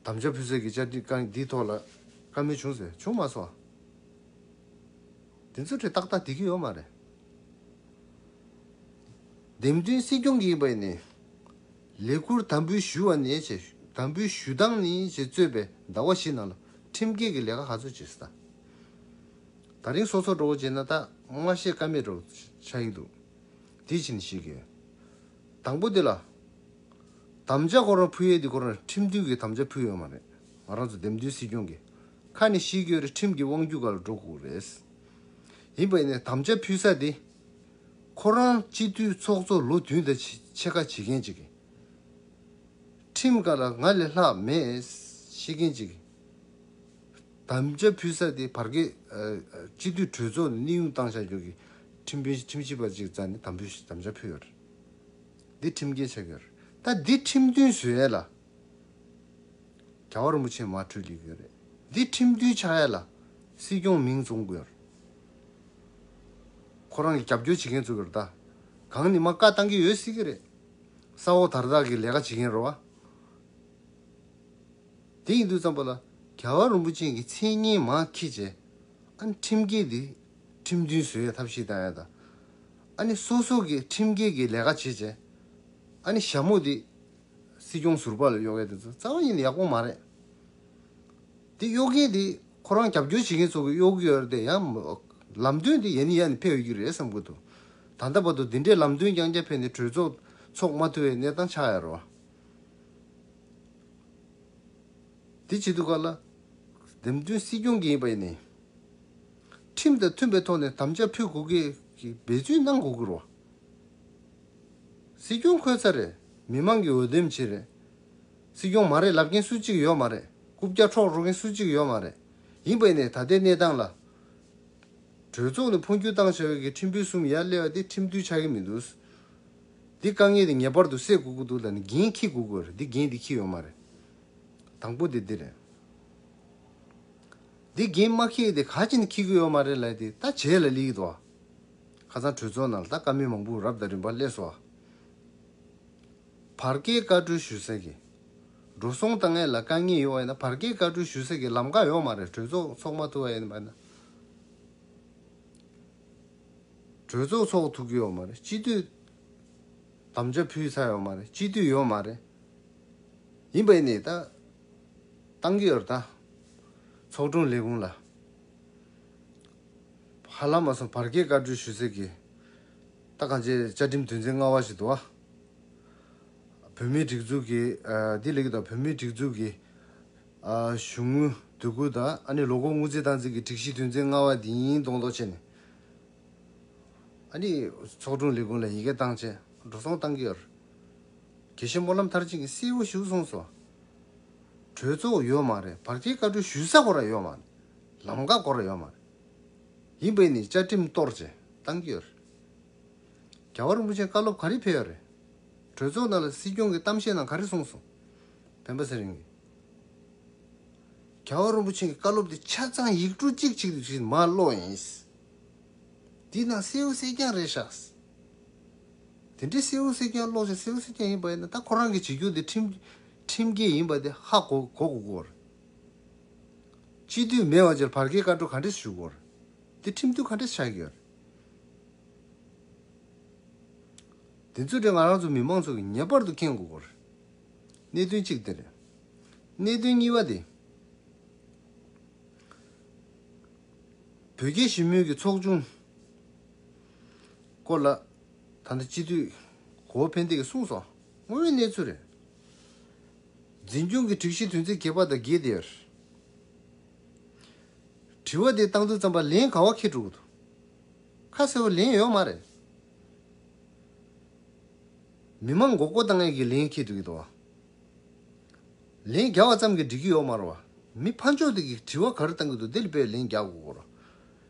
དམ་བཅའ་ཕུལ་ས་ཀྱི་བཅའ་ཁྲིམས་དཀའ་ངལ་འདིའི་ཐོག་ལ་བཀའ་མོལ་བྱུང་བཟོད་བྱུང་མ་སོང་བ། དེ་ཚོའི་ཁྲོད་ཏག་ཏག་དེ་གི་ཡོད་མ་རེད། འདེམས་ཐོན་སྲིད་སྐྱོང་གི་བས་ནི། ལས་འཁུར་དམ་འབུལ་ཞུ་བ་ནི་བྱས། དམ་འབུལ་ཞུ་སྟངས་ནི་བྱས་གཙོས་པའི་ཟླ་བ་བཞི་ནང་ལ་ཁྲིམས་འགལ་གི་ལས་ཀ་ག་ཚོད་བྱས་སྟངས། ད་རིང་སོ་སོར་འགྲོ་བྱས་ན་ད་སྔ་བཤད་ཀ་མེད་རོགས་ཆགས་ཡིག་འདུག་དེ་བྱས་ནི་བཤད་གི་ཡོད། དང་པོ་དེ་ལ། དམ་བཅའ་སྐོར་བ་ཕུལ་ཡས་དེ་སྐོར་ཁྲིམས་མཐུན་གྱི་དམ་བཅའ་ཕུལ་ཡོད་མ་རེད་ང་རང་ཚོ་འདེམས་མཐུན་སྲིད་སྐྱོང་གི་ཁ་ནས་ཤི་གྱོད་རེད་ཁྲིམས་ཀྱི་དབང་རྒྱུད་ག་ལ་འགྲོ་དགོས་རེད། ཡིན་པ་ནས་དམ་བཅའ་ཕུལ་ས་དེ་ཁོ་རང་སྤྱི་འཐུས་ཚོགས་གཙོ་ལོ་བདུན་དང་ཕྱེད་ཀ་བྱེད་མཁན་ཅིག་ཁྲིམས་ག་ལ་ང་ལས་ལྷག་མེད་ཤེས་མཁན་ཅིག་དམ་བཅའ་ཕུལ་ས་དེ་བར་བརྒལ་སྤྱི་འཐུས་གྲོས་ཚོགས་ནས་གནས་དབྱུང་བཏང་བྱ་རྒྱུ་གི་ཁྲིམས་ཕུལ་ཁྲིམས་ཞིབ་པ་ཅིག་བཙལ་ནས་དམ་བཅའ་ཕུལ་ཡོད་རེད། འདི་ཁྲིམས་འགལ་ཆགས་ཡོད་རེད་ད་འདི་ཁྲིམས་མཐུན་བཟོས་ཡས་ལ་རྒྱ་བ་རིན་པོ་ཆེ་མ་འཁྲུལ་ལེགས་ཡོད་རེད་འདི་ཁྲིམས་མཐུན་ཆགས་ཡས་ལ་སྲིད་སྐྱོང་མིང་བཟུང་དགོས་ཡོད་ཁོ་རང་གི་རྒྱབ་སྐྱོར་བྱེད་མཁན་བཙུགས་ཡོད་རེད་ད་གང་ནས་མ་བཀག་བཏང་གི་ཡོད་སྲིད་ཀྱི་རེད་ས་འོག་དར་བདག་གི་ལས་ཀ་བྱེད་མཁན་རེད་བ་དེ་ཡིན་དུས་བརྩམས་པ་ལ་རྒྱ་བ་རིན་པོ་ཆེན་གྱི་མཚན་སྙན་མ་ཁྱི་བྱས་ཨ་ཁྲིམས་འགལ་འདི་ཁྲིམས་མཐུན་བཟོས་ཡས་ཐབས་ཤེས་བཏང་ཡས་ད་ཨ་ནི་སོ་སོ་གི་ཁྲིམས་འགལ་གི་ལས་ཀ་བྱེད་བྱེད། ཨ་ནི་ཞྭ་མོ་དེ་སྲིད་སྐྱོང་ཟུར་པ་ལ་གཡོག་མཁན་དེ་ཚོ་རྩ་བ་ཉིད་ནས་ཡག་པོ་མ་རེད། དེ་གཡོག་མཁན་དེ་ཁོ་རང་རྒྱབ་སྐྱོར་བྱེད་མཁན་ཚོ་གི་གཡོག་གི་ཡོད་རེད་ཡང། ལམ་སྟོན་དེ་ཡ་ནི་ཡ་ནི་ཕེབས་ཡོད་རྒྱུ་རེད་བསམ་དགོས་འདུག་ད་ལྟ་བར་དུ་དེ་འདྲའི་ལམ་སྟོན་རྐྱང་རྐྱང་ཕེབས་ནས་གྲོས་ཚོགས་ཚོགས་མ་ཐུབ་བའི་གནས་སྟངས་ཆགས་ཡ་རོ། དེ་བྱེད་དུས་ག་ལ། འདེམས་ཐོན་སྲིད་སྐྱོང་གི་ཡིན་པ་ཡིན་ནའི། ཁྲིམས་དང་མཐུན་པའི་ཐོག་ནས་དམ་བཅའ་ཕུལ་དགོས་ཀྱི་འབད་བརྩོན་གནང་དགོས་ཀྱི་རེད། སྲིད་སྐྱོང་འཁོད་ས་རེད་མི་མང་གི་འོས་འདེམས་བྱེད་རེད། སྲིད་སྐྱོང་མ་རེད་ལབ་མཁན་སུ་གཅིག་ཡོད་མ་རེད་རྐུབ་བཀྱག་འཕྲོག་འགྲོ་མཁན་སུ་གཅིག་ཡོད་མ་རེད་ཡིན་པ་ནས་ད་ལྟའི་གནས་སྟངས་ལ། གྲོས་ཚོགས་ནས་འཕོ་འགྱུར་བཏང་བྱ་བའི་གི་ཁྲིམས་ཕུན་སུམ་ཡ་གླེ་བ་དེ་ཁྲིམས་མཐུན་ཆགས་ཀྱི་མི་འདུག། འདི་དཀའ་ངལ་དེ་ངེས་པར་དུ་སེལ་དགོས་ཀྱི་འདུག་ལ་ནི་འགན་འཁྱི་དགོས་ཀྱི་རེད་འདི་འགན་འདི་འཁྱི་ཡོད་མ་རེད། དང་པོ་དེ་འདི་རེད། འདི་རྒན་དམག་ཁྱེད་དེ་ག་ཅིན་ཁྱི་གུ་ཡོད་མ་རེད་ལད་དེ་ད་བྱས་ལ་ལིག་དོ། ཁ་ཚང་གྲོས་ཚོགས་ནང་ལ་ད་བཀའ་མོལ་མང་པོ་རབ་དང་རིམ་པར་སླེབས་སོ། བར་བརྒལ་བཀའ་གྲོས་ཞུ་ས་གི། འགྲོ་སོང་ལྟ་ངན་ལ་དཀའ་ངལ་ཡོད་བ་ཡིན་ན་བར་བརྒལ་བཀའ་གྲོས་ཞུ་ས་གི་ལམ་ཀ་ཡོད་མ་རེད་གྲོས་ཚོགས་ཚོགས་མ་ཐུབ་བ་ཡིན་པ་ན། གྲོས་ཚོགས་ཚོགས་ཐུབ་ཀྱི་ཡོད་མ་རེད་སྤྱི་འཐུས་དམ་བཅའ་ཕུལ་ཚར་ཡོད་མ་རེད་སྤྱི་འཐུས་ཡོད་མ་རེད། ཡིན་པ་ཡིན་ནའི་ད། ཏང་ཡོར་དང། ཚོགས་དྲུང་ལས་ཁུངས་ལ། ཧ་ལམ་མ་སོང་བར་སྐྱེལ་བཀའ་འཁྲོལ་ཞུ་ཟེར་གི། ད་གང་བྱས་བཅའ་ཁྲིམས་དོན་ཚན་ལྔ་བ་ཞིག་ཏུ། བོད་མིའི་སྒྲིག་འཛུགས་ཀྱི། འདི་ལེགས་དང་བོད་མིའི་སྒྲིག་འཛུགས་ཀྱི། གཞུང་དངུལ་སྡོད་ཁུལ་དང་ཨ་ནི་ལོ་འཁོར་དངུལ་རྩའི་སྟངས་འཛིན་གྱི་སྒྲིག་གཞི་དོན་ཚན་ལྔ་བ་འདི་ཡིན་གདོང་གཏོགས་བྱས་ནས། ཨ་ནི་ཚོགས་དྲུང་ལས་ཁུངས་ལ་ཡི་གེ་བཏང་རྗེས་འགྲོ་སོང་ཏང་ཡོར། དགེ་བཤེས་སྨོན་ལམ་མཐར་ཕྱིན་གྱི་སྲས་བུ་བཞུགས་གསུངས་སོ། གྲོས་ཚོགས་ཡོད་མ་རེད་བར་ཁྱེད་བཀའ་འཁྲོལ་ཞུ་ས་གོ་ར་ཡོད་མ་རེད་ལམ་ཀ་གོ་ར་ཡོད་མ་རེད། ཡིན་པས་ནི་བཅའ་ཁྲིམས་གཏོར་བཅད་བཏང་གི་ཡོད་རེད། རྒྱལ་བ་རིན་པོ་ཆེ་བཀའ་སློབ་ག་རེ་ཕེབས་ཡོད་རེད། གྲོས་ཚོགས་ནང་ལ་སྲིད་སྐྱོང་གི་གཏམ་བཤད་ནང་ག་རེ་གསུངས་སོང། བན་པོ་ཚེ་རིང་གིས། རྒྱལ་བ་རིན་པོ་ཆེ་གི་བཀའ་སློབ་དེ་ཆ་ཚང་ཡིག་འབྲུ་གཅིག་གཅིག་རིག་བཞིན་མར་ཀློག་ཡིན། འདི་ནང་སྲས་བུ་སྲས་རྐྱང་རེད་ཤག། དེ་འདྲའི་སེའུ་སེ་ཁྱོད་ཀློག་བྱ་སེའུ་སེ་ཁྱོད་ཡིན་པ་ཡིན་ན་ད་ཁོ་རང་གི་བྱེད་རྒྱུ་དེ་ཁྲིམས་འགལ་ཡིན་པ་དེ་ཧ་གོ་གོ་དགོས། སྤྱི་འཐུས་མེད་བར་ཆེར་བར་བརྒལ་བཀའ་འཁྲོལ་ག་འདྲས་ཞུ་དགོས། དེ་ཁྲིམས་མཐུན་ག་འདྲས་ཆགས་ཡོད། དེ་ཚོ་དེ་ང་རང་ཚོ་མི་མང་ཚོ་གིས་ངེས་པར་དུ་མཁྱེན་དགོས་དགོས། གནད་དོན་གཅིག་དེ་རེད། གནད་དོན་གཉིས་པ་དེ། བོད་རྒྱའི་ཞི་མོལ་གྱི་ཚོགས་ཆུང། སྐོར་ལ། ད་ལྟ་སྤྱི་འཐུས་གོ་བོ་ཕན་བདེ་གིས་གསུངས་སོང་དངོས་ཡོད་གནས་ཚུལ་རེད། འཛིན་སྐྱོང་གི་སྒྲིག་གཞི་དོན་ཚན་བརྒྱད་པ་དང་བརྒྱད་དེར། དྲི་བ་དེ་བཏང་དུས་རྩམ་པ་ལན་ག་བ་ཁེ་དྲུག་འདུག་ཁ་གསལ་བོ་ལན་ཡོད་མ་རེད། མི་མང་མགོ་སྐོར་བཏང་མཁན་གྱིས་ལན་ཁེ་དུ་གི་འདུག་ལན་བརྒྱ་བ་ཙམ་གྱིས་འགྲིག་གི་ཡོད་མ་རུང་བ་མི་ཕ་མཆོག་དེ་གིས་དྲི་བ་ག་རེ་བཏང་གི་འདུག་དེ་ལ་དཔེ་ལན་བརྒྱ་དགུ་སྐོར།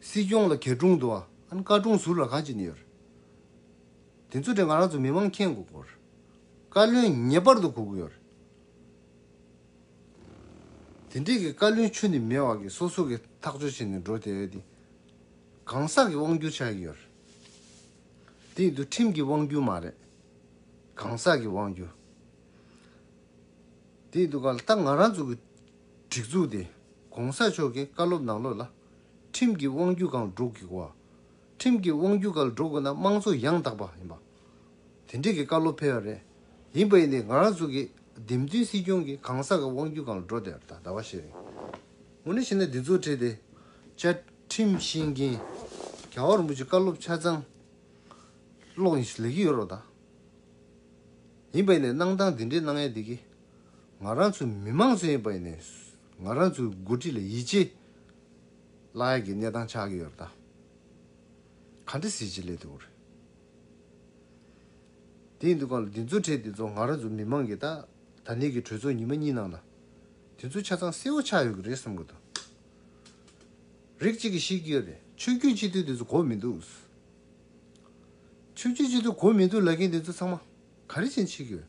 སྲིད་སྐྱོང་ལ་གྱ་གྲུང་དུ་ཨན་བཀའ་དྲུང་ཟུར་ལ་གང་ཅི་ནི་ཡོད། དེ་ཚོ་དེ་ང་རང་ཚོ་མི་མང་མཁྱེན་དགོས་སྐོར། བཀའ་བློན་ངེས་པར་དུ་གོ་གི་ཡོད། དེ་འདྲས་ཀྱི་བཀའ་བློན་ཆུ་ནི་མེད་བར་གྱི་སོ་སོ་གི་ཐག་གཅོད་བྱས་ནས་འགྲོ་དེ་འདི་གང་ཟག་གི་དབང་བསྒྱུར་ཆགས་ཀྱི་ཡོད། དེ་འདུ་ཁྲིམས་ཀྱི་དབང་བསྒྱུར་མ་རེད། གང་ཟག་གི་དབང་བསྒྱུར། དེ་འདུ་ག་ལ་ད་ང་རང་ཚོ་གི་སྒྲིག་འཛུགས་དེ ྋགོང་ས་མཆོག་གི་བཀའ་སློབ་ནང་ལོགས་ལ་ཁྲིམས་ཀྱི་དབང་བརྒྱུད་གང་སྒྲུབ་དགོས་བ། ཁྲིམས་ཀྱི་དབང་བརྒྱུད་ག་ལ་སྒྲུབ་དགོས་ན་དམངས་གཙོ་ཡང་དག་པ་ཡིན་པ། དེ་འདྲས་ཀྱི་བཀའ་སློབ་ཕེལ་བ་རེད། ཡིན་པ་ཡིན་ཏེ་ང་རང་ཚོ་གི་འདེམས་མཐུན་སྲིད་སྐྱོང་གི་གང་ཟག་གི་དབང་བརྒྱུད་གང་ལ་འགྲོ་དེ་ད་བ་ཞིག་རེད། ངོ་ནས་བཤད་ན་འདི་ཚོ་བྲིས་ཏེ་བཅའ་ཁྲིམས་ཤེས་མཁན་རྒྱ་བ་རིན་པོ་ཆེ་བཀའ་སློབ་ཆ་ཚང་ཀློག་ཡིན་ཞིག་ལེགས་ཀྱི་ཡོད་རོགས་ད། ཡིན་པ་ཡིན་ནས་གནང་སྟངས་འདི་འདྲས་གནང་ཡ་འདི་གི་ང་རང་ཚོ་མི་མང་གསོན་ཡོད་པ་ཡིན་ནས་ང་རང་ཚོའི་མགོ་ཁྲིད་ལ་ཡིད་ཆེས་བརླག་ཡག་གི་གནས་སྟངས་ཆགས་ཀྱི་ཡོད་རེད་ད། ག་འདྲ་ཟེར་ཅི་ལས་ཐུག་རེད། དེ་ཡིན་དུས་གང་ལ་དེ་ཚོ་འཕྲད་དེ་ཚོ་ང་རང་ཚོ་མི་མང་གིས་ད་ད་ནས་གི་གྲོས་ཚོགས་ཉིན་མ་གཉིས་ནང་ལ་དེ་ཚོ་ཆ་ཚང་གསལ་བོ་ཆགས་ཡོད་གི་རེད་བསམ་གི་འདུག་རིགས་གཅིག་གིས་ཤེས་ཀྱི་ཡོད་རེད་ཆོས་རྒྱུད་སྤྱི་འཐུས་དེ་ཚོ་གོ་མི་འདུག་ཆོས་རྒྱུད་སྤྱི་འཐུས་གོ་མི་འདུག་ལབ་མཁན་དེ་ཚོ་ཚང་མ་ག་རེ་བྱེད་ཕྱིན་ཡོད།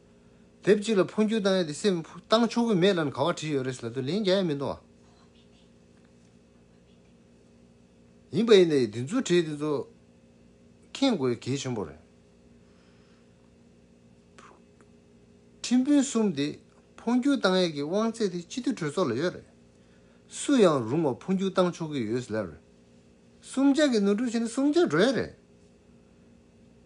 དེབ་གཅིག་ལ་འཕོ་འགྱུར་བཏང་ཡ་དེ་སེམས་བཏང་ཆོག་གི་མེད་ལ་ག་བ་བྲིས་ཡོད་རེད་ཟེར་ལབ་དུས་ལན་རྒྱག་ཡ་མི་འདུག་ཨ། ཡིན་པ་ཡིན་ཏེ་དེ་ཚོ་བྲིས་དེ་ཚོ་མཁྱེན་དགོས་གལ་ཆེན་པོ་རེད། ཁྲིམས་དཔོན་གསུམ་དེ་འཕོ་འགྱུར་བཏང་ཡ་གི་དབང་ཚད་དེ་སྤྱི་འཐུས་གྲོས་ཚོགས་ལ་ཡོད་རེད། སུ་ཡང་རུང་བ་འཕོ་འགྱུར་བཏང་ཆོག་གི་ཡོད་ཟེར་ལབ་རེད། སུམ་བརྒྱ་གི་ནོར་འཁྲུལ་བྱས་ན་སུམ་བརྒྱ་འགྲོ་ཡ་རེད།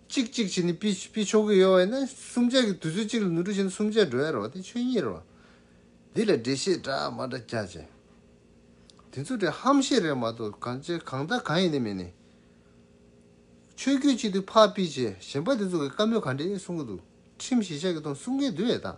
གཅིག་གཅིག་བྱས་ནས་པི་པི་ཆོག་གི་ཡོད་བས་ན་སུམ་ཆ་གི་དུས་ཚོད་གཅིག་ལ་ནུ་དྲུག་བྱས་ན་སུམ་ཆ་འགྲོ་ཡ་རོ་དེ་ཆོས་ཉིད་རོ། འདི་ལ་འགྲེལ་བཤད་འདྲ་མ་འདྲ་རྒྱག་བྱས། དེ་ཚོ་འདྲའི་ཧམ་བཤད་རེད་མ་གཏོགས་གང་བྱས་གང་བལྟ་གང་ཡིན་ནི་མིན་ནི། ཆོས་རྒྱུད་གཅིག་དུས་ཕག་པི་བྱས་གཞན་པ་དེ་ཚོ་གི་བཀའ་མོལ་ག་འདྲའི་གསུང་གི་འདུག་ཁྲིམས་གཞི་ཆགས་ཀྱི་ཐོང་གསུང་མཁན་དུ་ཡོད་དམ།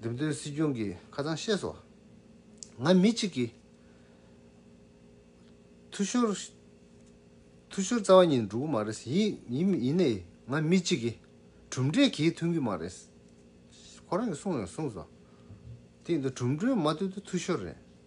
འདེམས་ཐོན་སྲིད་སྐྱོང་གིས་ཁ་ཚང་བཤད་སོང། ང་མི་གཅིག་གིས་འཐུས་ཤོར། འཐུས་ཤོར་རྩ་བ་ཉིད་འགྲོ་གི་མ་རེད། ཡིན་ཡིན་ནའི་ང་མི་གཅིག་གིས་གྲུབ་འབྲས་གྱིས་མཐུན་གི་མ་རེད། ཁོ་རང་གིས་གསུངས་ཡང་གསུངས་སོང། དེ་ཡིན་དུ་གྲུབ་འབྲས་མ་ཐོན་དུས་འཐུས་ཤོར་རེད།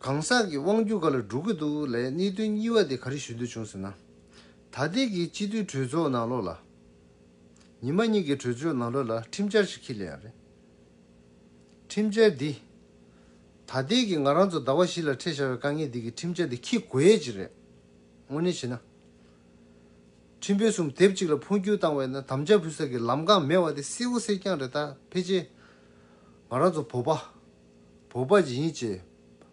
གང་ཟག་གི་དབང་བསྒྱུར་ག་ལ་འགྲོ་གི་འདུག་ལས་གནད་དོན་གཉིས་བ་དེ་ག་རེ་ཞུ་འདོད་བྱུང་ཟེར་ན། ད་ལྟའི་གི་སྤྱི་འཐུས་གྲོས་ཚོགས་ནང་ལོགས་ལ། ཉི་མ་གཉིས་གི་གྲོས་ཆོད་ནང་ལོགས་ལ་ཁྲིམས་འཆར་ཞིག་ཁྱེར་ལེ་ཡང་རེད། ཁྲིམས་འཆར་འདི། ད་ལྟའི་གི་ང་རང་ཚོ་ཟླ་བ་བཞི་ལ་འཕྲད་བཞག་པའི་དཀའ་ངལ་འདི་གི་ཁྲིམས་འཆར་འདི་ཁྱེར་དགོས་ཡས་ཅི་རེད། དངོས་གནས་བྱས་ན། ཁྲིམས་དཔོན་གསུམ་དེབ་གཅིག་ལ་འཕོ་འགྱུར་བཏང་བས་ན་དམ་བཅའ་ཕུལ་ས་གི་ལམ་གང་མེད་བ་དེ་གསལ་བོ་གསལ་རྐྱང་རེད་ད་ཕལ་ཆེར། ང་རང་ཚོ་བོད་པ། བོད་པ་ཇི་ཡིན་བཅས།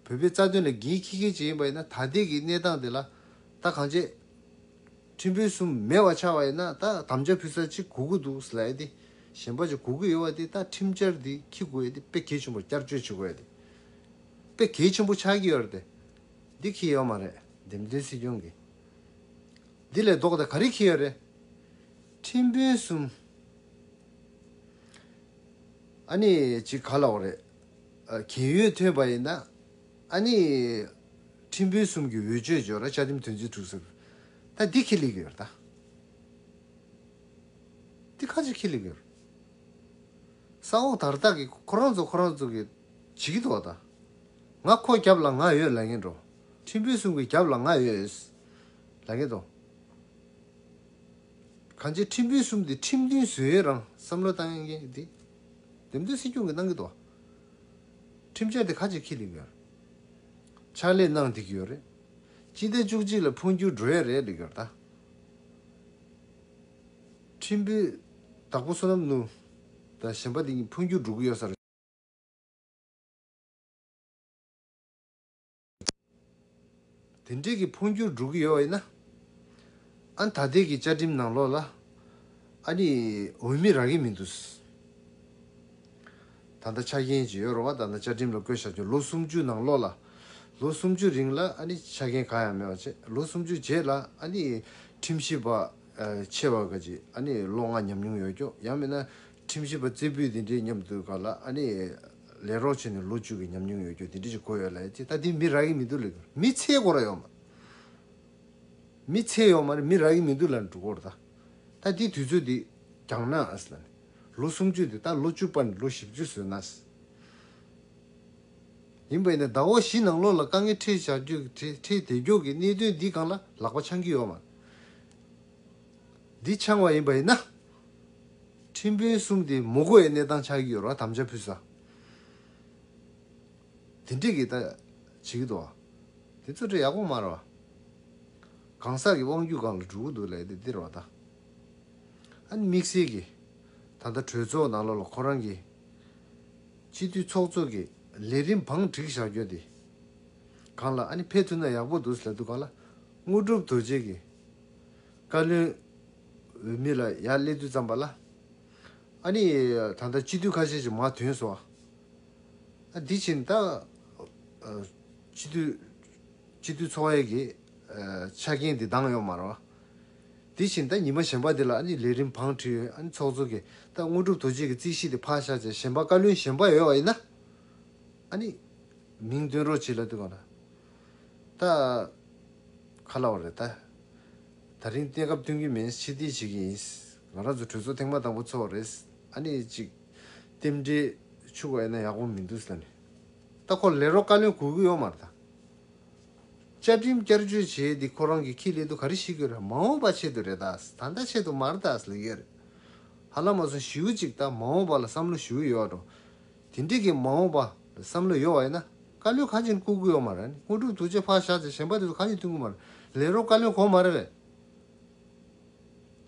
བོད་པའི་རྩ་དོན་ལ་འགན་འཁྱེར་མཁན་ཅིག་ཡིན་པ་ཡིན་ན་ད་ལྟའི་གི་གནས་སྟངས་འདི་ལ་ད་གང་བྱེད། ཁྲིམས་དཔོན་གསུམ་མེད་བ་ཆགས་པ་ཡིན་ན་ད་དམ་བཅའ་ཕུལ་ས་ཅིག་གོ་གི་འདུག་ཟེར་ཡ་དེ་གཞན་པ་ཅིག་གོ་གི་ཡོད་བ་དེ་ད་ཁྲིམས་བཅར་འདི་འཁྱེར་དགོས་ཡ་དེ་དཔེ་གལ་ཆེན་པོར་བསྐྱར་བཅོས་བྱེད་དགོས་ཡ་དེ་དཔེ་གལ་ཆེན་པོ་ཆགས་ཀྱི་ཡོད་རེད་དེ་འདི་འཁེལ་ཡོད་མ་རེད་འདེམས་ཐོན་སྲིད་སྐྱོང་གི་འདི་ལས་ལྡོག་ཏེ་ག་རེ་འཁེལ་ཡོད་རེད། ཁྲིམས་དཔོན་གསུམ། ཨ་ནི་ཅི་ག་ལ་བ་རེད། གྱེན་ཡོལ་ཐོན་པ་ཡིན་ན། ཨ་ནི། ཁྲིམས་དཔོན་གསུམ་གྱི་འོས་ཆོས་འཇོག་ར་བཅའ་ཁྲིམས་དོན་ཚན་དྲུག་ཟེར། ད་འདི་ཁས་ལེགས་ཡོད་རེད་ད། འདི་ཁ་ཅིག་ཁས་ལེགས་ཡོད་རེད། ས་འོག་དར་ཐག་གི་ཁོ་རང་ཚོ་ཁོ་རང་ཚོ་གི་བྱེད་ཀྱི་འདུག་ད། ང་ཁོ་རྒྱབ་ལ་ང་ཡོད་ལ་ངན་འགྲོ། ཁྲིམས་དཔོན་གསུམ་གྱི་རྒྱབ་ལ་ང་ཡོད། ལ་ངན་འདུག། གང་ཅིའི་ཁྲིམས་དཔོན་གསུམ་དེ་ཁྲིམས་མཐུན་བཟོས་ཡོད་རང་བསམ་བློ་བཏང་ཡོད་ཀྱི། དེབ་འདི་སྲིད་སྐྱོང་གི་གནང་གི་འདུག། ཁྲིམས་འཆར་དེ་ག་ཅིག་ཁས་ལེན་གི་ཡོད། ཕྱག་ལས་གནང་བསྡད་ཀྱི་ཡོད་རེད། སྤྱི་ཟླ་བཅུ་གཅིག་ལ་འཕོ་འགྱུར་འགྲོ་ཡ་རེད་ལེགས་ཀྱོར་ད། ཁྲིམས་དཔོན་དྭགས་པོ་བསོད་ནམས་ནུ། དང་གཞན་པ་དེ་གཉིས་འཕོ་འགྱུར་འགྲོ་གི་ཡོད་ས་རེད། དེ་འབྲེལ་གྱི་འཕོ་འགྱུར་འགྲོ་གི་ཡོད་ན། ཨ་ད་ལྟའི་གི་བཅའ་ཁྲིམས་ནང་ལོགས་ལ། ཨ་ནི་འོས་མི་རག་གི་མི་འདུག། ད་ལྟ་ཆ་རྐྱེན་གྱི་ཡོད་རུང་བ་ད་ལྟ་བཅའ་ཁྲིམས་ལ་བཀོད་བཞག་གྱི་ལོ་སུམ་ཅུ་ནང་ལོགས་ལ། ལོ་སུམ་ཅུ་རིང་ལ་ཨ་ནི་ཆ་རྐྱེན་གང་ཡང་མེད་པ་བྱས་ལོ་སུམ་ཅུ་རྗེས་ལ་ཨ་ནི་ཁྲིམས་ཞིབ་པ། ཆེ་བ་འགའ་གྱིས་ཨ་ནི་ལོ་ལྔ་ཉམས་མྱོང་ཡོད་སྐྱོ་ཡང་མིན་ན། ཁྲིམས་ཞིབ་པ་རྩེ་ཕུད་དེ་འདྲས་མཉམ་དུ་ག་ལ་ཨ་ནི། ལས་རོགས་བྱས་ནས་ལོ་བཅུ་གི་ཉམས་མྱོང་ཡོད་རྒྱུ་དེ་འདྲས་ཅིག་གོ་ཡོད་ལ་ཡ་ཅེས་ད་དེ་མི་རག་གི་མི་འདུག་ལ་མི་ཚེ་སྒོ་ར་ཡོང་མ། མི་ཚེ་ཡོང་མ་ནི་མི་རག་གི་མི་འདུག་ལ་འགྲུ་གོར་ད། ད་དེ་དུས་ཚོད་དེ་འགྱངས་ན་ཨཱས་ལ་ནི། ལོ་སུམ་ཅུ་དེ་ད་ལོ་བཅུ་སྤར་ནས་ལོ་བཞི་བཅུ་བཟོས་ན་ཨཱས། ཡིན་པ་ཡིན་ན་ད་འོག་གཞི་ནང་ལོགས་ལ་དཀའ་ངལ་འཕྲད་བཞག་རྒྱུ་འཕྲད་བདེ་རྒྱུག་གི་གནད་དོན་འདི་གང་ལ་ལག་པ་འཆང་གི་ཡོད་མ། འདི་འཆང་བ་ཡིན་པ་ཡིན་ན། ཁྲིམས་དཔོན་གསུམ་དེ་མོ་རྒོ་ཡའི་གནས་སྟངས་ཆགས་ཀྱི་ཡོད་ར་དམ་བཅའ་ཕུལ་ཟ། དེ་འགྲིག་གི་ད་བྱེད་ཀྱི་འདུག་བ། དེ་ཚོ་ཁྲི་ཡག་པོ་མ་ར་བ། གང་ཟག་གི་དབང་རྒྱུད་སྒང་ལ་འགྲོ་གི་འདུག་ལས་དེ་འདིར་བ་ད། ཨ་ནི་དམིགས་བསལ་གྱི་ད་ལྟ་གྲོས་ཚོགས་ནང་ལོགས་ལ་ཁོ་རང་གི། སྤྱི་འཐུས་ཚོགས་གཙོ་གི་ལས་རིམ་བང་བསྒྲིགས་བཞག་རྒྱུ་དེ། གང་ལ་ཨ་ནི་ཕེབས་ཐུབ་ན་ཡག་པོ་འདུག་ལས་དུ་ག་ལ་དངོས་གྲུབ་དོལ་རྗེས་ཀྱི། བཀའ་བློན་འོས་མི་ལ་ཡར་སླེབས་དུས་ཙམ་པ་ལ། ཨ་ནི། ད་ལྟ་སྤྱི་འཐུས་ཁ་ཤས་ཀྱི་མར་དོན་སོང། ཨ་དེ་ཕྱིན་ད། སྤྱི་འཐུས། སྤྱི་འཐུས་ཚོགས་གཡས་ཀྱི། ཆ་རྐྱེན་དེ་འདང་ཡོང་མ་རོ། དེ་ཕྱིན་ད་ཉི་མ་གཞན་པ་དེ་ལ་ཨ་ནི་ལས་རིམ་བང་བྲིས་ཡོད་ཨ་ནི་ཚོགས་གཙོ་གིས་ད་དངོས་གྲུབ་དོ་ཅེ་གི་རྩིས་གཞི་དེ་ཕར་བཞག་བྱས་གཞན་པ་བཀའ་བློན་གཞན་པ་ཡོད་པ་ཡིན་ན། ཨ་ནི། མིང་བཏོན་རོགས་བྱེད་ལ་དུས་གང་ན། ད། ཁ་ལ་བ་རེད་ད། ད་རིང་གཏན་འཁབ་སྟོན་གྱི་མིན་ཕྱི་བལྟས་བྱེད་ཀྱི་ཡིན། ང་རང་ཚོ་གྲོས་ཚོགས་ཐེངས་མ་དང་པོ་ཚོགས་པ་རེད། ཨ་ནི་ཅིག། རྟེན་འབྲེལ། ཕྱུག་པ་ཡིན་ན་ཡག་པོ་མི་འདུག་ཟེར་ནས། ད་ཁོ་ལས་རོགས་བཀའ་བློན་གོ་གི་ཡོད་མ་རེད་ད། བཅའ་ཁྲིམས་བསྐྱར་བཅོས་བྱས་ཏེ་ཁོ་རང་གི་ཁྱི་ལས་དུ་ག་རེ་བྱེད་གི་རེད་མ་འོངས་པ་ཆེད་དུ་རེད་ད། ད་ལྟ་ཆེད་དུ་མ་རེད་ད་ཟེར་གི་ཡོད་རེད། ཧ་ལམ་མ་སོང་བྱིའུ་ཅིག་ད་མ་འོངས་པ་ལ་བསམ་བློ་ཞུ་གི་ཡོད་རེད། དེ་འདྲི་གི་མ་འོངས་པ་བསམ་བློ་ཡོད་བ་ཡིན་ན་བཀའ་བློན་ཁ་ཆེ་བཀུར་དགོས་ཡོད་མ་རེད་དངོས་གྲུབ་ཐུགས་རྗེ་ཕག་བཞག་ཚེ་གཞན་པ་དེ་ཚོ་གང་ཡིན་ཐུགས་མཁོ་མ་རེད་ལས་རོགས་བཀའ་བློན་གོང་མ་རེད་བས།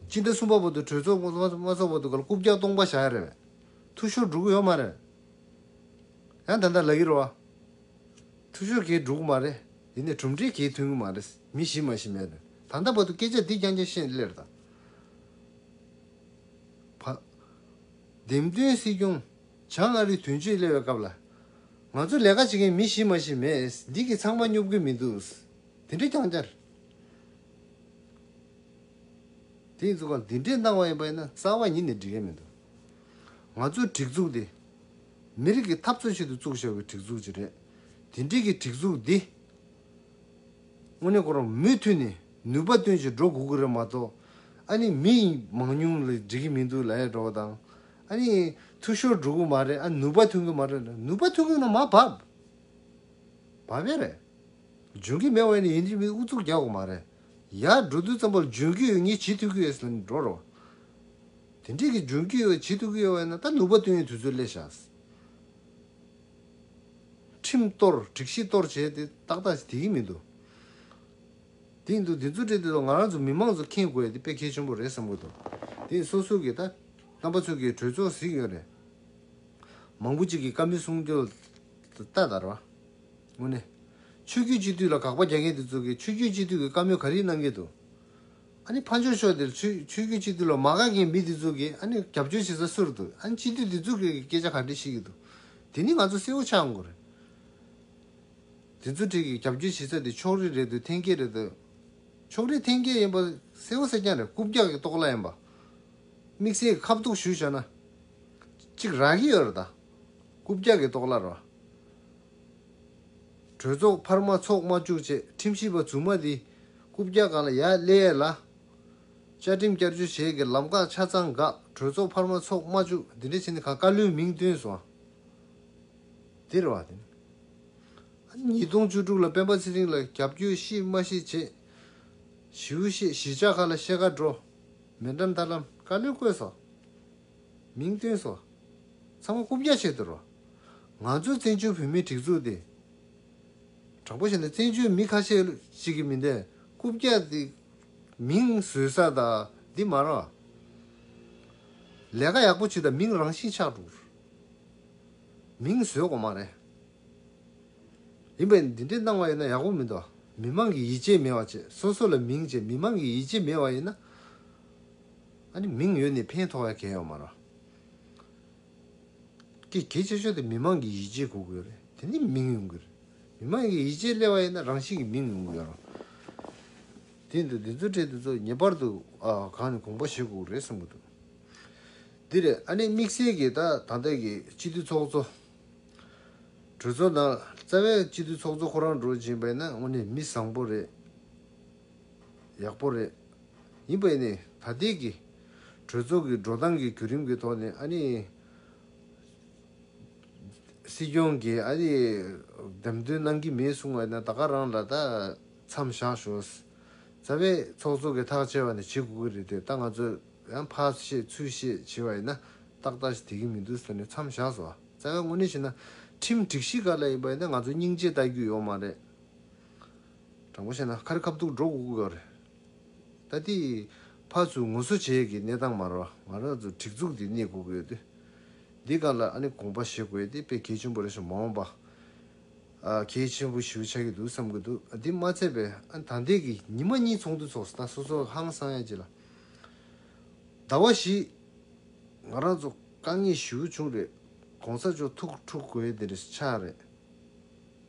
སྤྱི་ཟླ་གསུམ་པ་བར་དུ་གྲོས་ཚོགས་དངོས་མ་ཚོགས་བར་དུ་ག་ལ་རྐུབ་བཀྱག་སྟོང་པ་བཞག་ཡ་རེད་བས། ཐུགས་ཤོར་འགྲོ་གི་ཡོད་མ་རེད། ཡང་ད་ལྟ་ལག་གི་རོ་བ། ཐུགས་ཤོར་གས་འགྲོ་གི་མ་རེད་དེ་ནས་གྲུབ་འབྲས་གས་ཐོན་གི་མ་རེད་མི་ཞི་མ་ཞི་མེད་རེད་ད་ལྟ་བར་དུ་སྐད་ཆ་འདི་རྐྱང་རྐྱང་བཤད་འདི་ལེར་ད་བར། འདེམས་ཐོན་སྲིད་སྐྱོང། བྱ་ལྔ་རི་དུས་མཆོད་སླེ་བའི་སྐབས་ལ། ང་ཚོ་ལས་ཀ་བྱེད་མཁན་མི་བཞི་མ་བཞི་མེད་འདི་གི་ཚང་མ་སྙོབ་གི་མི་འདུག་འདི་འདྲི་རྐྱང་བསྐྱར་དེ་ཡིན་ཚུགས་ཀ་འདི་འདྲི་གནང་བ་ཡིན་པ་ཡིན་ན་རྩ་བ་ཉིད་ནས་འདྲི་མཁན་མི་འདུག་ང་ཚོ་སྒྲིག་འཛུགས་འདི་མི་རིགས་ཀྱི་འཐབ་རྩོད་ཆེད་དུ་བཙུགས་བཞག་པའི་སྒྲིག་འཛུགས་ཅིག་རེད་འདི་འདྲི་གི་སྒྲིག་འཛུགས་འདི་དངོས་གནས་ཁོ་རང་མུས་མཐུད་ནས་ནུས་པ་བཏོན་ཅིག་འགྲོ་དགོས་ཀྱི་རེད་མ་གཏོགས་ཨ་ནི་མི་མང་ཉུང་ལ་འདྲི་གི་མི་འདུག་ལ་ཡ་འགྲོ་བ་དང་ཨ་ནི། ཐུགས་ཤོར་འགྲོ་གི་མ་རེད་ཨ་ནུས་པ་ཐོན་གི་མ་རེད་ནུས་པ་ཐོན་གི་ན་མ་བབས། བབས་ཡས་རེད། འཇོན་གི་མེད་བ་ནི་ཡིན་གྱི་མི་ཨུ་ཚུགས་རྒྱག་གི་མ་རེད། ཡར་འགྲོ་དུས་ཙམ་པོ་ལ་འཇོན་གི་ཡོད་ངས་བྱེད་ཐུབ་གི་ཡོད་ཟེར་ནས་འགྲོ་རོགས། དེ་འདྲས་ཀྱི་འཇོན་གི་ཡོད་བྱེད་ཐུབ་གི་ཡོད་བས་ན་ད་ནུས་པ་ཐོན་ཡས་དུས་ཚོད་སླེ་བཞག། ཁྲིམས་གཏོར་སྒྲིག་གཞི་གཏོར་བྱས་ཏེ་ཏག་ཏག་ཅིག་དེ་གི་མི་འདུག། དེ་ཡིན་དུ་དེ་ཚོ་བྲིས་དེ་ཚོ་ང་རང་ཚོ་མི་མང་ཚོ་མཁྱེན་དགོས་ཡ་དེ་དཔེ་མཁས་ཆེན་པོ་རེད་བསམ་གི་འདུག་དེ་ཡིན་སོ་སོ་གི་ད་རྣམ་པ་ཚོ་གི་གྲོས་ཚོགས་གཟིགས་ཡོད་རེད། མང་པོ་ཅིག་གི་བཀའ་མི་སྲུང་རྒྱུ་ལྟ་དར་བ། དངོས་གནས། ཆོས་རྒྱུད་སྤྱི་འཐུས་ལ་དགག་པ་རྒྱག་མཁན་དེ་ཚོ་གི་ཆོས་རྒྱུད་སྤྱི་འཐུས་གི་བཀའ་མོལ་ག་རིགས་གནང་གི་འདུག་ཨ་ནི་ཕ་འཇོག་ཤོག་དེར་ཆོས་ཆོས་རྒྱུད་སྤྱི་འཐུས་ལ་མ་དགག་མཁན་མི་དེ་ཚོ་གི་ཨ་ནི་རྒྱབ་སྐྱོར་བྱེད་ས་སུ་རུ་འདུག་ཨ་ནི་སྤྱི་འཐུས་དེ་ཚོ་གི་སྐད་ཆ་ག་འདྲི་བྱེད་ཀྱི་འདུག་དེ་ནི་ང་ཚོ་གསལ་བོ་ཆགས་འགོ་རེད། དེ་ཚོ་བྲིས་ཀྱི་རྒྱབ་སྐྱོར་བྱེད་ས་དེ་ཕྱོགས་རིས་རེད་འདུག་འཐེན་འཁྱེར་རེད་འདུག་ཕྱོགས་རིས་འཐེན་འཁྱེར་ཡིན་པ་གསལ་བོ་གསལ་རྐྱང་རེད་རྐུབ་བཀྱག་གི་ལྟོགས་ལ་ཡིན་པ། དམིགས་བསལ་གྱི་ཁ་བཏུགས་ཞུ་བྱ་ན། གཅིག་རག་གི་ཡོད་རེད་ད། རྐུབ་བཀྱག་གི་ལྟོགས་ལ་རོགས། གྲོས་ཚོགས་འཕར་མ་ཚོགས་མ་བཅུག་ཅེས་ཁྲིམས་ཞིབ་པ་རྫུན་མ་འདིས་རྐུབ་བཀྱག་གང་ལ་ཡ་བསླེས་ཡས་ལ། བཅའ་ཁྲིམས་བསྐྱར་བཅོས་བྱེད་ཀྱི་ལམ་ཁ་ཆ་ཚང་འགག་གྲོས་ཚོགས་འཕར་མ་ཚོགས་མ་བཅུག་འདི་འདྲ་བྱས་ནས་ག་ག་ལུའི་མིང་བཏོན་སོང། འདིར་བ་དན། ཉིས་སྟོང་བཅུ་དྲུག་ལ་སྤེན་པ་ཚེ་རིང་ལ་རྒྱ་བསྐྱོད་གཤིས་སྨྲ་ཤེས་བྱེད། ཞིའུ་གཤེད་གཞིས་ཆགས་ཁ་ལ་གཤེད་མཁའ་འགྲོ། མེ་འགྲམ་ཐར་ལམ་བཀའ་བློན་བསྐོས་སོ། མིང་བཏོན་སོ། ཚང་མ་རྐུབ་བཀྱག་བྱེད་དུ་རོ། ང་ཚོས་བཙན་བྱོལ་བོད་མིའི་སྒྲིག་འཛུགས་འདི། དྲང་པོ་བཤད་ན་བཙན་བྱོལ་མི་ཁ་ཤས་ཤིག་གི་མི་འདི་རྐུབ་བཀྱག་འདི། མིང་བཟོས་ས་དང་འདི་མ་རང། ལས་ཀ་ཡག་པོ་བྱེད་དང་མིང་རང་བཞིན་ཆགས་འགྲོ། མིང་བཟོས་གོ་མ་རེད། ཡིན་པས་འདི་འདྲའི་སྣང་བ་ཡོད་ན་ཡག་པོ་མི་འདུག་མི་དམངས་ཀྱི་ཡིད་ཆེས་མེད་བ་བཅས་སོ་སོ་ལ་མིང་བཅས་མི་དམངས་ཀྱི་ཡིད་ཆེས་མེད་བ་ཡིན་ན། མིང་ཡོད་ནི་ཕན་ཐོག་ཡ་གལ་ཡོད་མ་རེད། ཀྱི་གལ་ཆེ་ཤོས་དེ་མི་དམངས་ཀྱི་ཡིད་ཆེས་གོ་དགོས་རེད་དེ་ནས་མིང་ཡོང་གི་རེད། མི་དམངས་ཀྱི་ཡིད་ཆེས་སླེ་བ་ཡིན་ན་རང་བཞིན་གྱི་མིང་ཡོང་གི་ཡོད་རང། དེ་ཡིན་དུས་འདི་ཚོ་འཕྲལ་དུ་ཚོ་ངེས་པར་དུ་གང་ནས་གོང་པ་བྱེད་དགོས་རེད་གསུང་གི་འདུག། འདི་རེད་ཨ་ནི་དམིགས་བསལ་གྱིས་ད་ད་ལྟའི་གི་སྤྱི་འཐུས་ཚོགས་གཙོ། གྲོས་ཚོགས་དང་རྩ་བའི་སྤྱི་འཐུས་ཚོགས་གཙོ་ཁོ་རང་འགྲོ་བཞིན་པས་ན་དངོས་ནས་མི་བཟང་པོ་རེད། ཡག་པོ་རེད། ཡིན་པས་ནི་ད་ལྟའི་གི་གྲོས་ཚོགས་གི་འགྲོ་སྟངས་གི་བརྒྱུད་རིམ་གི་ཐོག་ནས་ཨ་ནི་སྲིད་སྐྱོང་གིས་ཨ་ནི་འདེམས་ཐོན་གནང་གི་མེད་གསུང་བས་ན་ད་ག་རང་ལ་ད་མཚམས་བཞག་ཞོག། རྩ་བའི་ཚོགས་གཙོ་གི་ཐག་བཅད་པ་ནི་བྱེད་དགོས་ཀྱི་རེད་དེ་ད་ང་ཚོས། ཡང་ཕ་ཞེས་ཚུལ་ཞེས་བྱེད་པ་ཡིན་ན་ཏག་ཏག་ཞིག་དེ་གི་མི་འདུག་ཟེར་ནས་མཚམས་བཞག་སོང། བཙན་བཀའ་དངོས་གནས་བྱས་ན་ཁྲིམས་སྒྲིག་གཞི་ག་ལ་ཡིན་པ་ཡིན་ན་ང་ཚོའི་སྙིང་རྗེ་ལྟ་རྒྱུ་ཡོག་མ་རེད། དྲང་པོ་བཤད་ན་ཁ་རི་ཁ་བཏུག་འགྲོ་དགོས་ཀྱི་རེད། ད་དེ་ཕ་ཚུལ་ངོ་སོ་བྱེད་ཀྱི་གནས་སྟངས་མ་རེད་བ། ང་རང་ཚོ་སྒྲིག་འཛུགས་འདི་གནས་དགོས་ཀྱི་ཡོད་དུས། འདི་ག་ལ་ཨ་ནི་དགོངས་པ་བཞེས་དགོས་ཏེ་དཔེ་གལ་ཆེན་པོ་རེད་ཞེས་མ་འོངས་པ་གལ་ཆེན་པོ་ཞིག་ཆགས་ཀྱི་འདུག་བསམ་གྱི་འདུག་འདི་མ་ཚད་པས་ཨ་ནི་ད་ལྟའི་གི་ཉི་མ་གཉིས་ཚོགས་འདུ་ཚོགས་སོང་ད་སོ་སོ་ཧང་སང་ཡ་ཅིག་ལ། ཟླ་བ་བཞི། ང་རང་ཚོ་དཀའ་ངལ་ཞི་བོ་བྱུང་རེད་གོང་ས་མཆོག་ཐུགས་ཁྲོ་གོས་འདིར་ཆགས་རེད།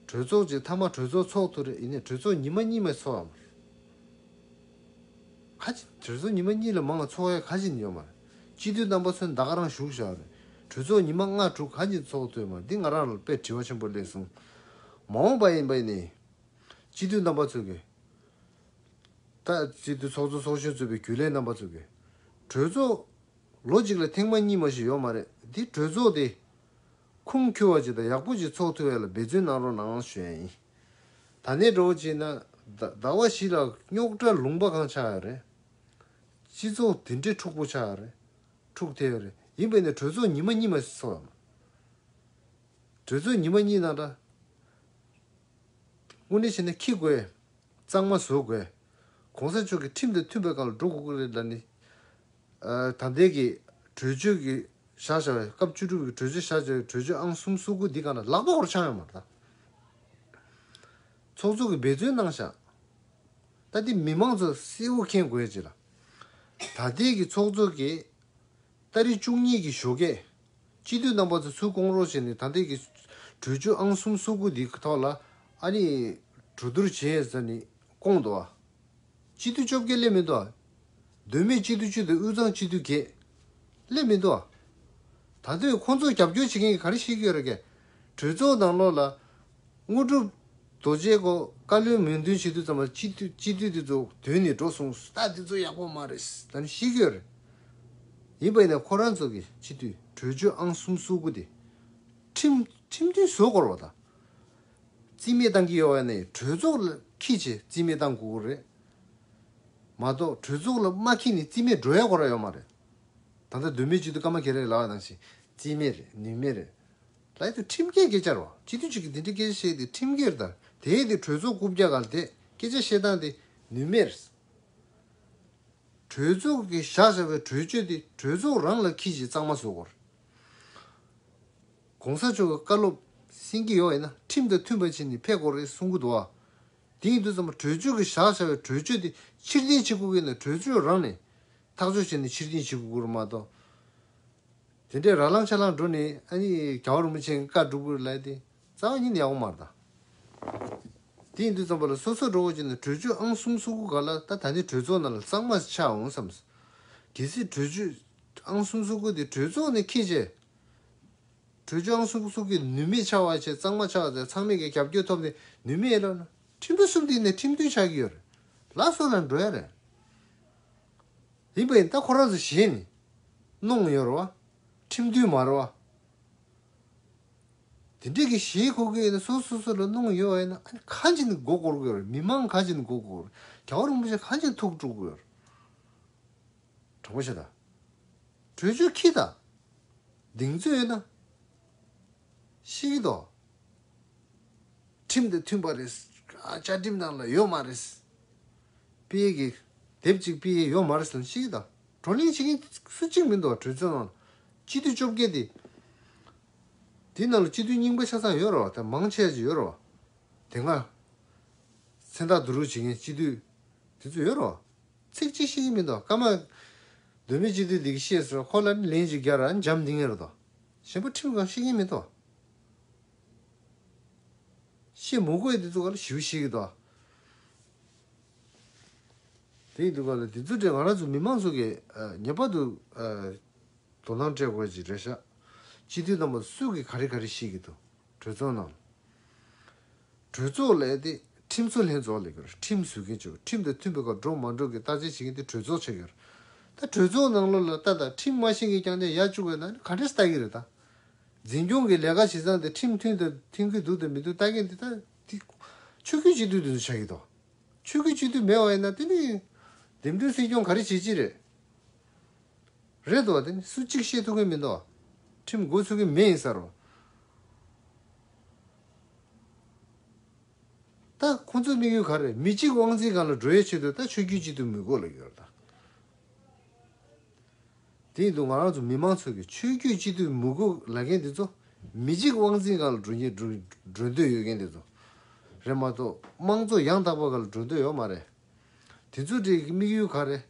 གྲོས་ཚོགས་ཀྱི་མཐའ་མ་གྲོས་ཚོགས་ཚོགས་ཐུ་རེད་ཡིན་ནའི་གྲོས་ཚོགས་ཉི་མ་གཉིས་མའི་ཚོགས་ཡོད་མ་རེད། ཁ་ཅིག་གྲོས་ཚོགས་ཉི་མ་གཉིས་ལས་མང་བའི་ཚོགས་ཡ་ག་ཅིག་ནས་ཡོད་མ་རེད། སྤྱི་འཐུས་རྣམ་པ་ཚོ་འདའ་ག་རང་བཞུགས་བཞག་རེད། གྲོས་ཚོགས་ཉི་མ་ལྔ་དྲུག་ག་ཅིག་ཚོགས་ཐུ་ཡོད་མ་རེད་འདི་ང་རང་ལ་དཔེ་དྲི་བ་ཆེན་པོ་ལེགས་གསུངས། མ་འོངས་པ་ཡིན་པ་ཡིན་ནའི། སྤྱི་འཐུས་རྣམ་པ་ཚོ་གིས། ལྟ་ཅི་སྟེ་ཚོགས་གཙོ་ཚོགས་གཞོན་གཙོས་པའི་རྒྱུན་ལས་རྣམ་པ་བཙུགས་པའི་གྲོས་ཚོགས། ལོ་གཅིག་ལ་ཐེངས་མ་གཉིས་མ་ཞིག་ཡོག་མ་རེད་དེ་གྲོས་ཚོགས་དེ། ཁུངས་འཁྱོལ་བ་ཅིག་དང་ཡག་པོ་ཅིག་ཚོགས་ཐུབ་ཡ་ལ་འབད་བརྩོན་གནང་རོགས་གནང་ཞོན། ད་ནས་འགྲོ་བྱས་ན་ཟླ་བ་བཞི་ལ་རྙོག་དྲ་ལུང་པ་གང་ཆགས་ཡ་རེད། སྤྱི་ཚོགས་དེ་འདྲའི་འཁྲུག་པོ་ཆགས་ཡ་རེད་འཁྲུག་ཐེ་ཡ་རེད་ཡིན་པས་ན་གྲོས་ཚོགས་ཉི་མ་གཉིས་མ་ཞིག་ཚོགས་ཡ་མ་རེད། གྲོས་ཚོགས་ཉི་མ་གཉིས་ནང་འདྲ། དངོས་གནས་བཤད་ན་ཁྱི་དགོས། གཙང་མ་བཟོ་དགོས། གོང་ས་མཆོག་གི་ཁྲིམས་དང་མཐུན་པའི་བཀའ་ལ་འགྲོ་དགོས་ཀྱི་རེད་ལ་ནི། ད་ལྟའི་གི་གྲོས་ཆོད་ཀྱི་བཞག་བྱ་བ་སྐབས་བཅུ་དྲུག་པའི་གྲོས་ཆོད་བཞག་བྱ་བའི་གྲོས་ཆོད་ཨང་གསུམ་བསུ་དགོས་འདི་གང་ན་ལག་པ་བོར་ཆགས་ཡོང་མ་ད། ཚོགས་གཙོ་གི་འབད་བརྩོན་གནང་བཞག་ད་འདི་མི་མང་ཚོ་སེ་བོ་མཁྱེན་དགོས་ཅི་ལ། ད་ལྟའི་གི་ཚོགས་གཙོ་གི། ལྟ་རི་བཅུ་གཉིས་གི་བཞོ་སྐད་སྤྱི་འཐུས་རྣམ་པ་ཚོ་ཚུར་བསྐོང་རོགས་བྱས་ནས་ད་ལྟའི་གྲོས་ཆོད་ཨང་གསུམ་སོ་དགུ་འདི་ཐོག་ལ་ཨ་རིས་གྲོས་བསྡུར་བྱས་ཟེར་ནས་བསྐོང་འདུག་ཨ། སྤྱི་འཐུས་བཅོ་བརྒྱད་སླེབས་མི་འདུག་ཨ། དོན་མེད་སྤྱི་འཐུས་བཅུ་དང་དབུས་གཙང་སྤྱི་འཐུས་བརྒྱད། སླེབས་མི་འདུག་ཨ། ད་དུས་ཁོང་ཚོ་རྒྱབ་སྐྱོར་བྱེད་མཁན་གྱི་ག་རེ་ཞིག་ཡོད་རེད། གྲོས་ཚོགས་ནང་ལོགས་ལ། དངོས་གྲུབ། རྡོ་རྗེ་སྒོ་བཀའ་བློན་མོས་འདུན་བྱེད་དུས་ཙམ་ལ་སྤྱི་འཐུས་སྤྱི་འཐུས་དེ་ཚོ་དུས་ནས་འགྲོ་སོང་སུ་ད་དེ་ཚོ་ཡག་པོ་མ་རེད་ད་ནི་ཤི་གི་རེད། ཡིན་པ་ཡིན་ན་ཁོ་རང་ཚོ་གི་སྤྱི་འཐུས་གྲོས་ཆོད་ཨང་གསུམ་བསུ་དགོས་ཏེ། ཁྲིམས་ཁྲིམས་མཐུན་བཟོ་དགོས་རོགས་ཟླ། རྩིས་མེད་བཏང་གི་ཡོད་བ་ནི་གྲོས་ཚོགས་ལ་ཁིས་ཆེ་རྩིས་མེད་བཏང་དགོས་གི་རེད། མ་གཏོགས་གྲོས་ཚོགས་ལ་མ་ཁིས་ནི་རྩིས་མེད་འགྲོ་ཡ་གོ་ར་ཡོད་མ་རེད། ད་ལྟ་དུས་མེད་སྤྱི་འཐུས་སྐར་མ་གེ་རེ་ལ་བ་ནང་བཞིན་རྩིས་མེད་རེད་ནུས་མེད་རེད། ལྷག་ཏུ་ཁྲིམས་འགལ་སྐད་ཆར་བ་སྤྱི་འཐུས་གཅིག་གིས་འདི་འདྲའི་སྐད་ཆ་བཤད་དེ་ཁྲིམས་འགལ་དང་དེའི་དེ་གྲོས་ཚོགས་རྐུབ་བཀྱག་གར་དེད་སྐད་ཆ་བཤད་སྟངས་དེ་ནུས་མེད་རེད། གྲོས་ཚོགས་ཀྱིས་བཞག་བཞག་པའི་གྲོས་ཆོད་དེ་གྲོས་ཚོགས་རང་ལ་ཁྱི་ཞིག་གཙང་མ་བཟོ་དགོས་རེད། གོང་ས་མཆོག་གི་བཀའ་སློབ་སེང་གེ་ཡོག་ཡིན་ན་ཁྲིམས་དང་མཐུན་པ་བྱས་ནས་ཕེབས་དགོས་རེད་གསུང་གི་འདུག་ཨ། དེ་ཡིན་དུས་ཙམ་གྲོས་ཆོད་ཀྱི་བཞག་བཞག་པའི་གྲོས་ཆོད་དེ་ཕྱིར་འཐེན་བྱེད་དགོས་ཀྱི་ཡིན་ན་གྲོས་ཆོད་རང་ནས་ཐག་གཅོད་བྱས་ནས་ཕྱིར་འཐེན་བྱེད་དགོས་ཀྱི་རེད་མ་གཏོགས། དེ་འདྲའི་ར་ལང་ཆ་ལང་འགྲོ་ནི་ཨ་ནི་གྱ་བ་རུ་མི་ཆེན་གི་ཀ་འབྲུག་པོར་ལས་ཏེ་རྩ་བ་ཉིད་ནི་ཡ་བོ་མར་དང། དེ་ཡིན་དུས་བརྩམས་པ་ལ་སོ་སོར་འགྲོ་དགོས་ཀྱི་ན་གྲོས་ཆོད་ཨང་གསུམ་སོ་དགུ་ག་ལ་ད་ད་ནི་གྲོས་ཚོགས་ནང་ལ་གཙང་མ་ཆགས་འོང་བསམས། གལ་སྲིད་གྲོས་ཆོད་ཨང་གསུམ་སོ་དགུ་དེ་གྲོས་ཚོགས་ནས་ཁེ་བྱས། གྲོས་ཆོད་ཨང་གསུམ་སོ་དགུ་ནུས་མེད་ཆགས་བར་བྱས་གཙང་མ་ཆགས་ཚེ་ཚང་མས་ཀྱང་རྒྱབ་སྐྱོར་ཐོབ་ནས་ནུས་མེད་ལ། ཁྲིམས་གསུམ་དེ་ནས་ཁྲིམས་མཐུན་ཆགས་ཀྱི་ཡོད་རེད། ལགས་སོ་ལ་འགྲོ་ཡ་རེད། ལེགས་པའི་རྟགས་ཁོ་རང་སུ་བཞེས་ནས། གནོང་གཡོར་བ། ཁྲིམས་མཐུན་མར་བ། དེ་འདྲ་གི་བཞེས་ཁོ་དགོས་ན་སོ་སོ་སོ་ལ་གནོང་གཡོར་བ་ཡིན་ན་གང་བྱས་ནས་མགོ་བསྐོར་དགོས་རེད་མི་མང་གང་བྱས་ནས་མགོ་བསྐོར་རྒྱ་བོ་རིན་པོ་ཆེ་གང་བྱས་ནས་ཐུགས་དཀྲུག་དགོས་རེད། དྲང་པོ་བྱེད་དང། གྲོས་ཆོད་ཁི་དང། གདེང་ཚོད་ཡོད་ན། ཤེས་ཀྱི་འདུག། ཁྲིམས་དང་མཐུན་པ་རེད། བཅའ་ཁྲིམས་ནང་ལ་ཡོད་མ་རེད། སྤེལ་གྱི། དེབ་ཅིག་སྤེལ་གྱི་ཡོད་མ་རེད་ཟེར་ནས་ཤེས་ཀྱི་འདུག་བགྲོ་གླེང་བྱེད་མཁན་སུ་གཅིག་མི་འདུག་གྲོས་ཚོགས་ནང་ལ་སྤྱི་འཐུས་བཅོ་བརྒྱད་དེ། དེའི་ནང་ལ་སྤྱི་འཐུས་རྙིང་པ་ཆ་ཚང་ཡོད་རེད་བ་དང་མང་ཆེ་བ་ཅིག་ཡོད་རེད་བ། དེ་སྔ། མཚན་རྟགས་བསྡུ་རུག་བྱེད་མཁན་སྤྱི་འཐུས་དེ་ཚོ་ཡོད་རེད་བ། ཚིག་གཅིག་ཤེས་ཀྱི་མི་འདུག་ཀརྨ། གདོད་མའི་སྤྱི་འཐུས་འདི་གིས་ཤེས་ཟེར་བ་ཁོ་ལ་ལན་ཅིག་རྒྱབ་ར་འཇམ་འདི་ངེས་རེད་དོ། ཞེན་པ་ཁྲིམས་གང་ཤེས་ཉེས་མེད་དོ། ཤེས་མུ་གོས་དེ་ཚུགས་ཀ་ལ་ཞུ་ཤེས་གི་དོ། དེ་ཡི་དུས་ཀ་ལ་དེ་ཚུགས་དེ་ང་རང་ཚོ་མི་མང་ཚོ་གི་ངེས་པར་དུ་དོ་སྣང་སྤྲད་དགོས་ཀྱི་རེད་ཤག་སྤྱི་འཐུས་རྣམ་པ་སུས་གི་ག་རེ་ག་རེ་ཤེས་གི་དོ། གྲོས་ཚོགས་ནང། གྲོས་ཚོགས་ལས་དེ་ཁྲིམས་བཟོ་ལྷན་ཚོགས་ལས་ཀྱི་ཁྲིམས་བཟོས་མཁན་ཆོས་ཁྲིམས་དང་མཐུན་པའི་ཁར་འགྲོ་མ་འགྲོ་གི་བརྟག་དཔྱད་བྱེད་མཁན་དེ་གྲོས་ཚོགས་ཆགས་ཀྱི་རེད། ད་གྲོས་ཚོགས་ནང་ལོ་ལ་ལྟ་དང་ཁྲིམས་མ་ཤེས་མཁན་རྐྱང་རྐྱང་ཡར་བཅུག་པའི་ནང་ནས་ག་འདྲས་སུ་ལྟ་གི་རེད་ད། འཛིན་སྐྱོང་གི་ལས་ཀ་བྱེད་སྟངས་དེ་ཁྲིམས་མཐུན་དང་མཐུན་གྱི་འདུག་དང་མི་འདུག་ལྟ་མཁན་དེ་ད་དེ་ཆོས་བརྒྱུད་སྤྱི་འཐུས་དེ་ཚོ་ཆགས་ཀྱི་འདུག་ཆོས་བརྒྱུད་སྤྱི་འཐུས་མེད་བ་ཡིན་ན་དེ་ནི་འདེམས་སྒྲུག་སྲིད་སྐྱོང་ག་རེ་བྱེད་ཀྱི་རེད། རེད་དོ། དེ་ནི་སུ་གཅིག་བཤད་ཐུབ་མཁན་མིན་དོ། ཁྲིམས་འགོ་ཚུགས་མཁན་མེད་ཡིན་ས་རུ། ད་ཁོང་ཚོའི་དམིགས་ཡུལ་ག་རེད། མི་གཅིག་དབང་འཛིན་གང་ལ་འགྲོ་ཡའི་ཆེད་དུ་ད་ཆོས་རྒྱུད་གཅིག་ཏུ་མི་དགོས་ལ་ཡོད་རེད་ད། དེ་ཡིན་དུ་ང་རང་ཚོ་མི་མང་ཚོ་གིས་ཆོས་རྒྱུད་གཅིག་ཏུ་མི་དགོས་ལ་མཁན་དེ་ཚོ། མི་གཅིག་དབང་འཛིན་གང་ལ་འགྲོ་མཁན་འགྲོ་འདོད་ཡོད་མཁན་དེ་ཚོ་རེད་མ་གཏོགས་དམངས་གཙོ་ཡང་དག་པ་ག་ལ་འགྲོ་འདོད་ཡོད་མ་རེད། དེ་ཚོ་འདྲེ་ཡི་དམིགས་ཡུལ་ག་རེད།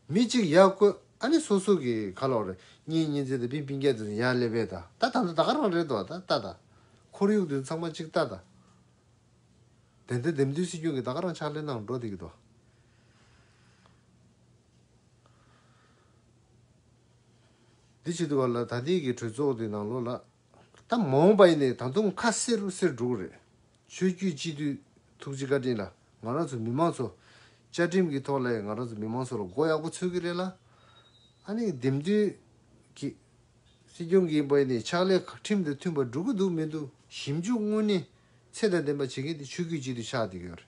མི་གཅིག་ཡར་བཀོད་ཨ་ནི་སོ་སོ་གི་ཁ་ལོར་གཉིས་གཉིས་འཛིན་དང་པིན་པིན་སྐད་དུ་ཡར་སླེབས་པས་ད་ད་ད་ད་ད་ག་རང་རེད་ད་ད་ད། ཁོར་ཡུག་དུ་ཚང་མ་གཅིག་ད་ད། བདེན་དོན་འདེམས་དུས་སྲིད་སྐྱོང་གིས་ད་ག་རང་ཕྱག་ལས་གནང་འགྲོ་འདི་གི་ད། འདི་བྱེད་དུ་བ་ལ་ད་འདི་གི་གྲོས་ཚོགས་འདི་ནང་ལོ་ལ། ད་མ་འོངས་པ་ཡིན་ནའི་ད་དུང་ཁ་སེར་རུ་སེར་འགྲོ་གི་རེད། ཆོས་བརྒྱུད་སྤྱི་འཐུས་ཐུགས་རྗེ་བཀའ་དྲིན་ལ་ང་རང་ཚོ་མི་མང་ཚོ་བཅའ་ཁྲིམས་ཀྱི་ཐོག་ལས་ང་རང་ཚོ་མི་མང་ཚོ་ལ་མགོ་ཡག་པོ་ཚོས་གི་རེད་ལ་ཨ་ནི་འདེམས་མཐུན་གྱི་སྲིད་སྐྱོང་གིས་པའི་ནི་ཕྱག་ལས་ཁྲིམས་དང་མཐུན་པ་སྒྲུབ་གི་འདུག་མི་འདུག་ཞིབ་འཇུག་དངོས་གནས་ཚད་དང་ལྡན་པ་བྱེད་མཁན་དེ་ཆོས་བརྒྱུད་སྤྱི་འཐུས་ཆགས་འདི་ཡོད་རེད་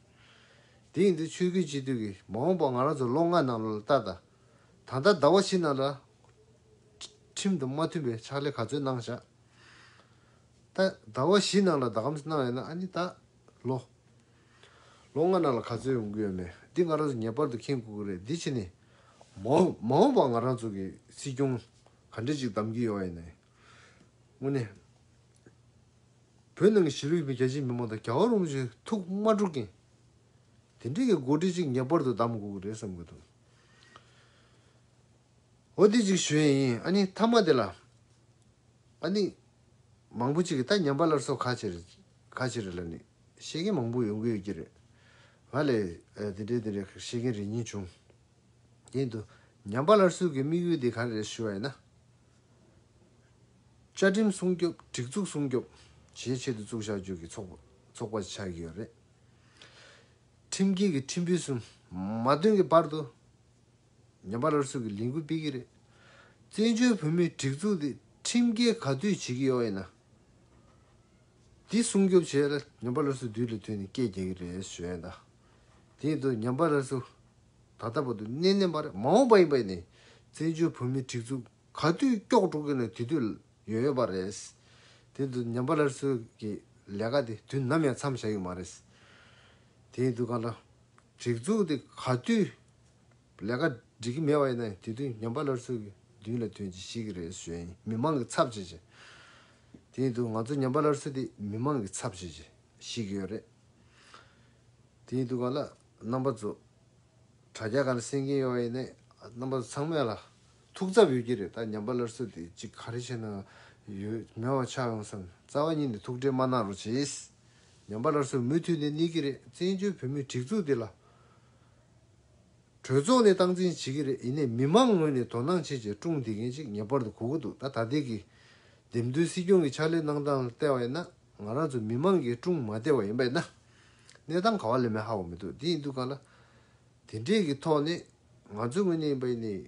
དེ་ཡིན་དུས་ཆོས་བརྒྱུད་སྤྱི་འཐུས་ཀྱི་མ་འོངས་པ་ང་རང་ཚོ་ལོ་ལྔ་ནང་ལོ་ལ་ལྟ་ད་ད་ལྟ་ཟླ་བ་བཞི་ནང་ལ་ཁྲིམས་དང་མ་མཐུན་པའི་ཕྱག་ལས་ག་ཚོད་གནང་བཞག་ད་ད་བ་བཞི་ནང་ལ་ད་གམ་སྣང་ཡོད་ན་ཨ་ནི་ད། ལོ། ལོ་ལྔ་ནང་ལ་ག་ཚོད་ཡོང་གི་ཡོད་མེད་འདི་ང་རང་ཚོ་ངེས་པར་དུ་མཁྱེན་དགོས་ཀྱི་རེད་འདི་ཕྱི་ནས། མ་མ་འོངས་པར་ང་རང་ཚོ་གི་སྲིད་སྐྱོང་ག་འདྲས་ཅིག་གདམ་གྱི་ཡོད་ཡིན་ནའི། དངོས་གནས། བོད་ནང་གི་གཞིས་ལུས་རྒྱ་ཆེའི་མི་མང་དང་རྒྱ་བ་རུང་བ་ཞིག་ཐུགས་དམའ་འགྲོ་གིན། དེ་འདྲས་ཀྱི་འགོ་ཁྲིད་ཅིག་ངེས་པར་དུ་གདམ་དགོས་ཀྱི་རེད་བསམ་གྱི་འདུག། འོ་དེ་ཅིག་ཞུ་ཡས་ཡིན་ཨ་ནི་མཐའ་མ་དེ་ལ། ཨ་ནི། མང་པོ་ཅིག་གིས་ད་ཉམས་པ་སླར་གསོ་ཁ་ཕྱིར། ཁ་ཕྱིར་ལ་ནི། བཤད་མཁན་མང་པོ་ཡོང་གི་ཡོད་ཀྱི་རེད། ང་ལས། དེ་འདྲའི་དེ་འདྲའི་བཤད་མཁན་རེ་གཉིས་བྱུང། དེ་འདུག། ཉམས་པ་སླར་གསོའི་གི་དམིགས་ཡུལ་དེ་ག་རེ་རེད་ཞུ་བ་ཡིན་ན། བཅའ་ཁྲིམས་སྲུང་སྐྱོབ་སྒྲིག་འཛུགས་སྲུང་སྐྱོབ། བྱེད་ཆེད་དུ་བཙུགས་བྱ་རྒྱུ་གི་ཚོགས་ཚོགས་པ་ཆགས་ཀྱི་ཡོད་རེད། ཁྲིམས་འགལ་གི་ཁྲིམས་དཔོན་གསུམ། མ་བཏོན་གི་བར་དུ། ཉམས་པ་རར་ཟུག་གི་ལས་འགུལ་སྤེལ་གྱི་རེད། བཙན་བྱོལ་བོད་མིའི་སྒྲིག་འཛུགས་འདི་ཁྲིམས་འགལ་ག་དུས་བྱེད་ཀྱི་ཡོག་ཡིན་ན། འདི་སྲུང་སྐྱོབ་བྱེད་ལ་ཉམས་པ་རར་ཟུག་དུས་ལ་དུས་ནས་སྐད་རྒྱག་གི་རེད་ཞུས་ཡོད། དེ་ཡིན་དུས་ཉམས་པ་རར་ཟུག་ད་ལྟ་བར་དུ་གནས་ནས་མ་རེད་མ་འོངས་པ་ཡིན་པ་ཡིན་ནའི་བཙན་བྱོལ་བོད་མིའི་སྒྲིག་འཛུགས་ག་དུས་སྐྱོག་འགྲོ་གི་ནའི་དེ་དུས་ཡོད་ཡོད་པ་རེད། དེ་ཡིན་དུས་ཉམས་པ་རར་ཟུག་གི་ལས་ཀ་འདི་དུས་ནམ་ཡང་མཚམས་བཞག་གི་མ་རེད། དེ་ཡིན་དུས་གང་ལྟར། སྒྲིག་འཛུགས་དེ་ག་དུས་ལས་ཀ་སྒྲིག་གི་མེད་པ་ཡིན་ན་དེ་དུས་ཉམས་པ་སླར་ཚུར་མདུན་ལ་དོན་གྱི་ཤེས་ཀྱི་རེད་ཟོས་ཡིན་མི་མང་གི་ཚབ་བྱེད་ཀྱི། དེ་ཡིན་དུས་ང་ཚོ་ཉམས་པ་སླར་ཚུར་དེ་མི་མང་གི་ཚབ་བྱེད་ཀྱི་ཤེས་ཀྱི་ཡོད་རེད། དེ་ཡིན་དུས་ག་ལ་རྣམ་པ་ཚོ་དྲ་རྒྱ་ག་ལ་སེང་གིན་ཡོད་པ་ཡིན་ན་རྣམ་པ་ཚོ་ཚང་མས་ལ་ཐུགས་འཚབ་ཡོད་ཀྱི་རེད་ད་ཉམས་པ་སླར་ཚུར་དེ་ཅིག་ག་རེ་བྱས་ན་ཡོད་མེད་བ་ཆགས་ཡོང་བསམ་རྩ་བ་ཉིད་ནས་ཐུགས་ཁྲལ་མ་གནང་རོགས་བྱེད། ཉམས་པ་སླར་སོར་མུ་མཐུད་ནས་གནས་ཀྱི་རེད་བཙན་བྱོལ་བོད་མིའི་སྒྲིག་འཛུགས་འདི་ལ་གྲོས་ཚོགས་ནས་སྟངས་འཛིན་བྱེད་ཀྱི་རེད་ཡིན་ནས་མི་མང་ངོས་ནས་དོ་སྣང་བྱེད་ཆེད་ཀྲུང་འདི་མཁན་ཅིག་ངེས་པར་དུ་གོ་གི་འདུག་ད་ད་ལྟའི་གི་འདེམས་ཐོན་སྲིད་སྐྱོང་གི་ཕྱག་ལས་གནང་སྟངས་ལྟས་བ་ཡིན་ན་ང་རང་ཚོ་མི་མང་གིས་ཀྲུང་མ་བདེ་བ་ཡིན་པ་ཡིན་ན་གནས་སྟངས་ག་བ་ལས་མེད་ཧ་བོ་མི་འདུག་དེ་ཡིན་དུས་གང་ལ་དེ་འདྲས་གི་ཐོག་ནས་ང་ཚོའི་ངོས་ནས་ཡིན་པ་ཡིན་ནས་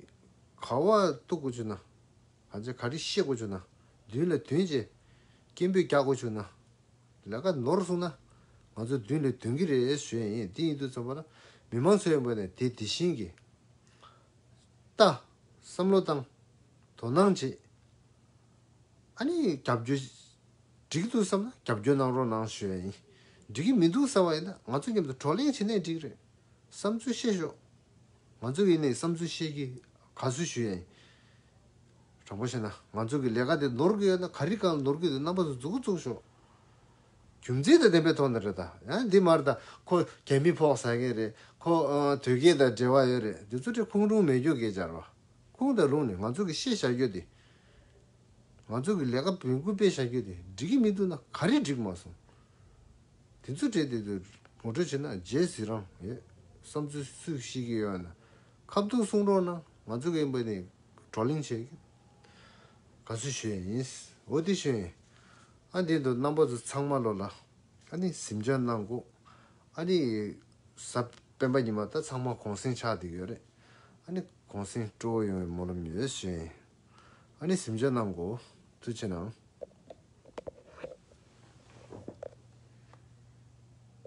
ག་བ་གཏུག་གི་བྱུང་ན། ང་ཚོས་ག་རེ་ཤེས་དགོས་བྱུང་ན། མདུན་ལ་དོན་བྱེད། སྐད་འབོད་རྒྱག་དགོས་བྱུང་ན། ལས་ཀ་ནོར་སོང་ན། ང་ཚོ་མདུན་ལས་དོན་གྱི་རེད་ཞུས་ཡིན་འདི་ཡིན་དུས་ཚོད་པ་ལ། མི་མང་ཚོའི་ངོས་ནས་དེ་དེ་བཞིན་གྱི། ལྟ། བསམ་བློ་བཏང། དོ་སྣང་བྱེད། ཨ་ནི་རྒྱབ་སྐྱོར། འགྲིག་འདུག་བསམ་ན་རྒྱབ་སྐྱོར་གནང་རོགས་གནང་ཞུས་ཡིན། འགྲིག་གི་མི་འདུག་བསམ་བ་ཡིན་ན་ང་ཚོ་མཉམ་དུ་བགྲོ་གླེང་བྱེད་ནས་འགྲིག་རེད། བསམ་ཚུལ་བཤད་ཤོག། ང་ཚོ་ཡིན་ནས་བསམ་ཚུལ་བཤད་ཀྱི་ག་ཚོད་ཞུས་ཡིན། དྲང་པོ་བཤད་ན་ང་ཚོ་གི་ལས་ཀ་དེ་ནོར་གི་ཡོད་ན་ག་རི་གང་ནོར་གི་འདུག་རྣམ་པ་ཚོ་རྫུག་རྫུག་ཤོག། རྒྱུ་མཚན་དང་ལྡན་པའི་ཐོག་ནས་རེད་ད། ཡང་འདི་མར་ད་ཁོ་རྒྱ་མི་ཕོག་ཟ་མཁན་རེད་ཁོ་དོལ་རྒྱལ་དང་འབྲེལ་བ་ཡོད་རེད་འདི་ཚོ་ཁྲི་ཁུང་རུང་མེད་རྒྱུག་གེ་སྦྱར་བ། ཁུང་དང་རུང་ནི་ང་ཚོ་གི་ཤེས་བྱ་རྒྱུ་དེ། ང་ཚོ་གི་ལས་ཀ་བོན་སྐུ་སྤེལ་བྱ་རྒྱུ་དེ་འགྲིག་གི་མི་འདུག་ན་ག་རི་འགྲིག་མ་སོང། འདི་ཚོ་བྲེལ་ཏེ་ངོ་སྤྲོད་བྱེད་ན་རྗེས་ཟིག་རང་ཡོད་བསམ་ཚུལ་སུས་ཤེས་ཀྱི་ཡོད་ན་ཁ་བརྡུང་གསུང་རོགས་གནང་ང་ཚོ་གིས་འབུ་ནས་བགྲོ་གླེང་བྱས་གི་ག་ཚོད་ཞུ་ཡས་ཡིན་འོ་དེ་ཞུ་ཡས་ཨ་དེ་འདུག་རྣམ་པ་ཚོ་ཚང་མ་ལོ་ལ་ཨ་ནི་གཟིམ་ཆ་གནང་དགོ་ཨ་དེ་ས་སྤེན་པ་ཉི་མ་ད་ཚང་མ་གོང་སེང་ཆགས་འདི་ཡོད་རེད་ཨ་ནི་གོང་སེང་སྤྲོ་བོ་ཡོང་བའི་སྨོན་ལམ་ཡོད་ཞུ་ཡས་ཨ་ནི་གཟིམ་ཆ་གནང་དགོ་ཐུགས་ཆེ་གནང།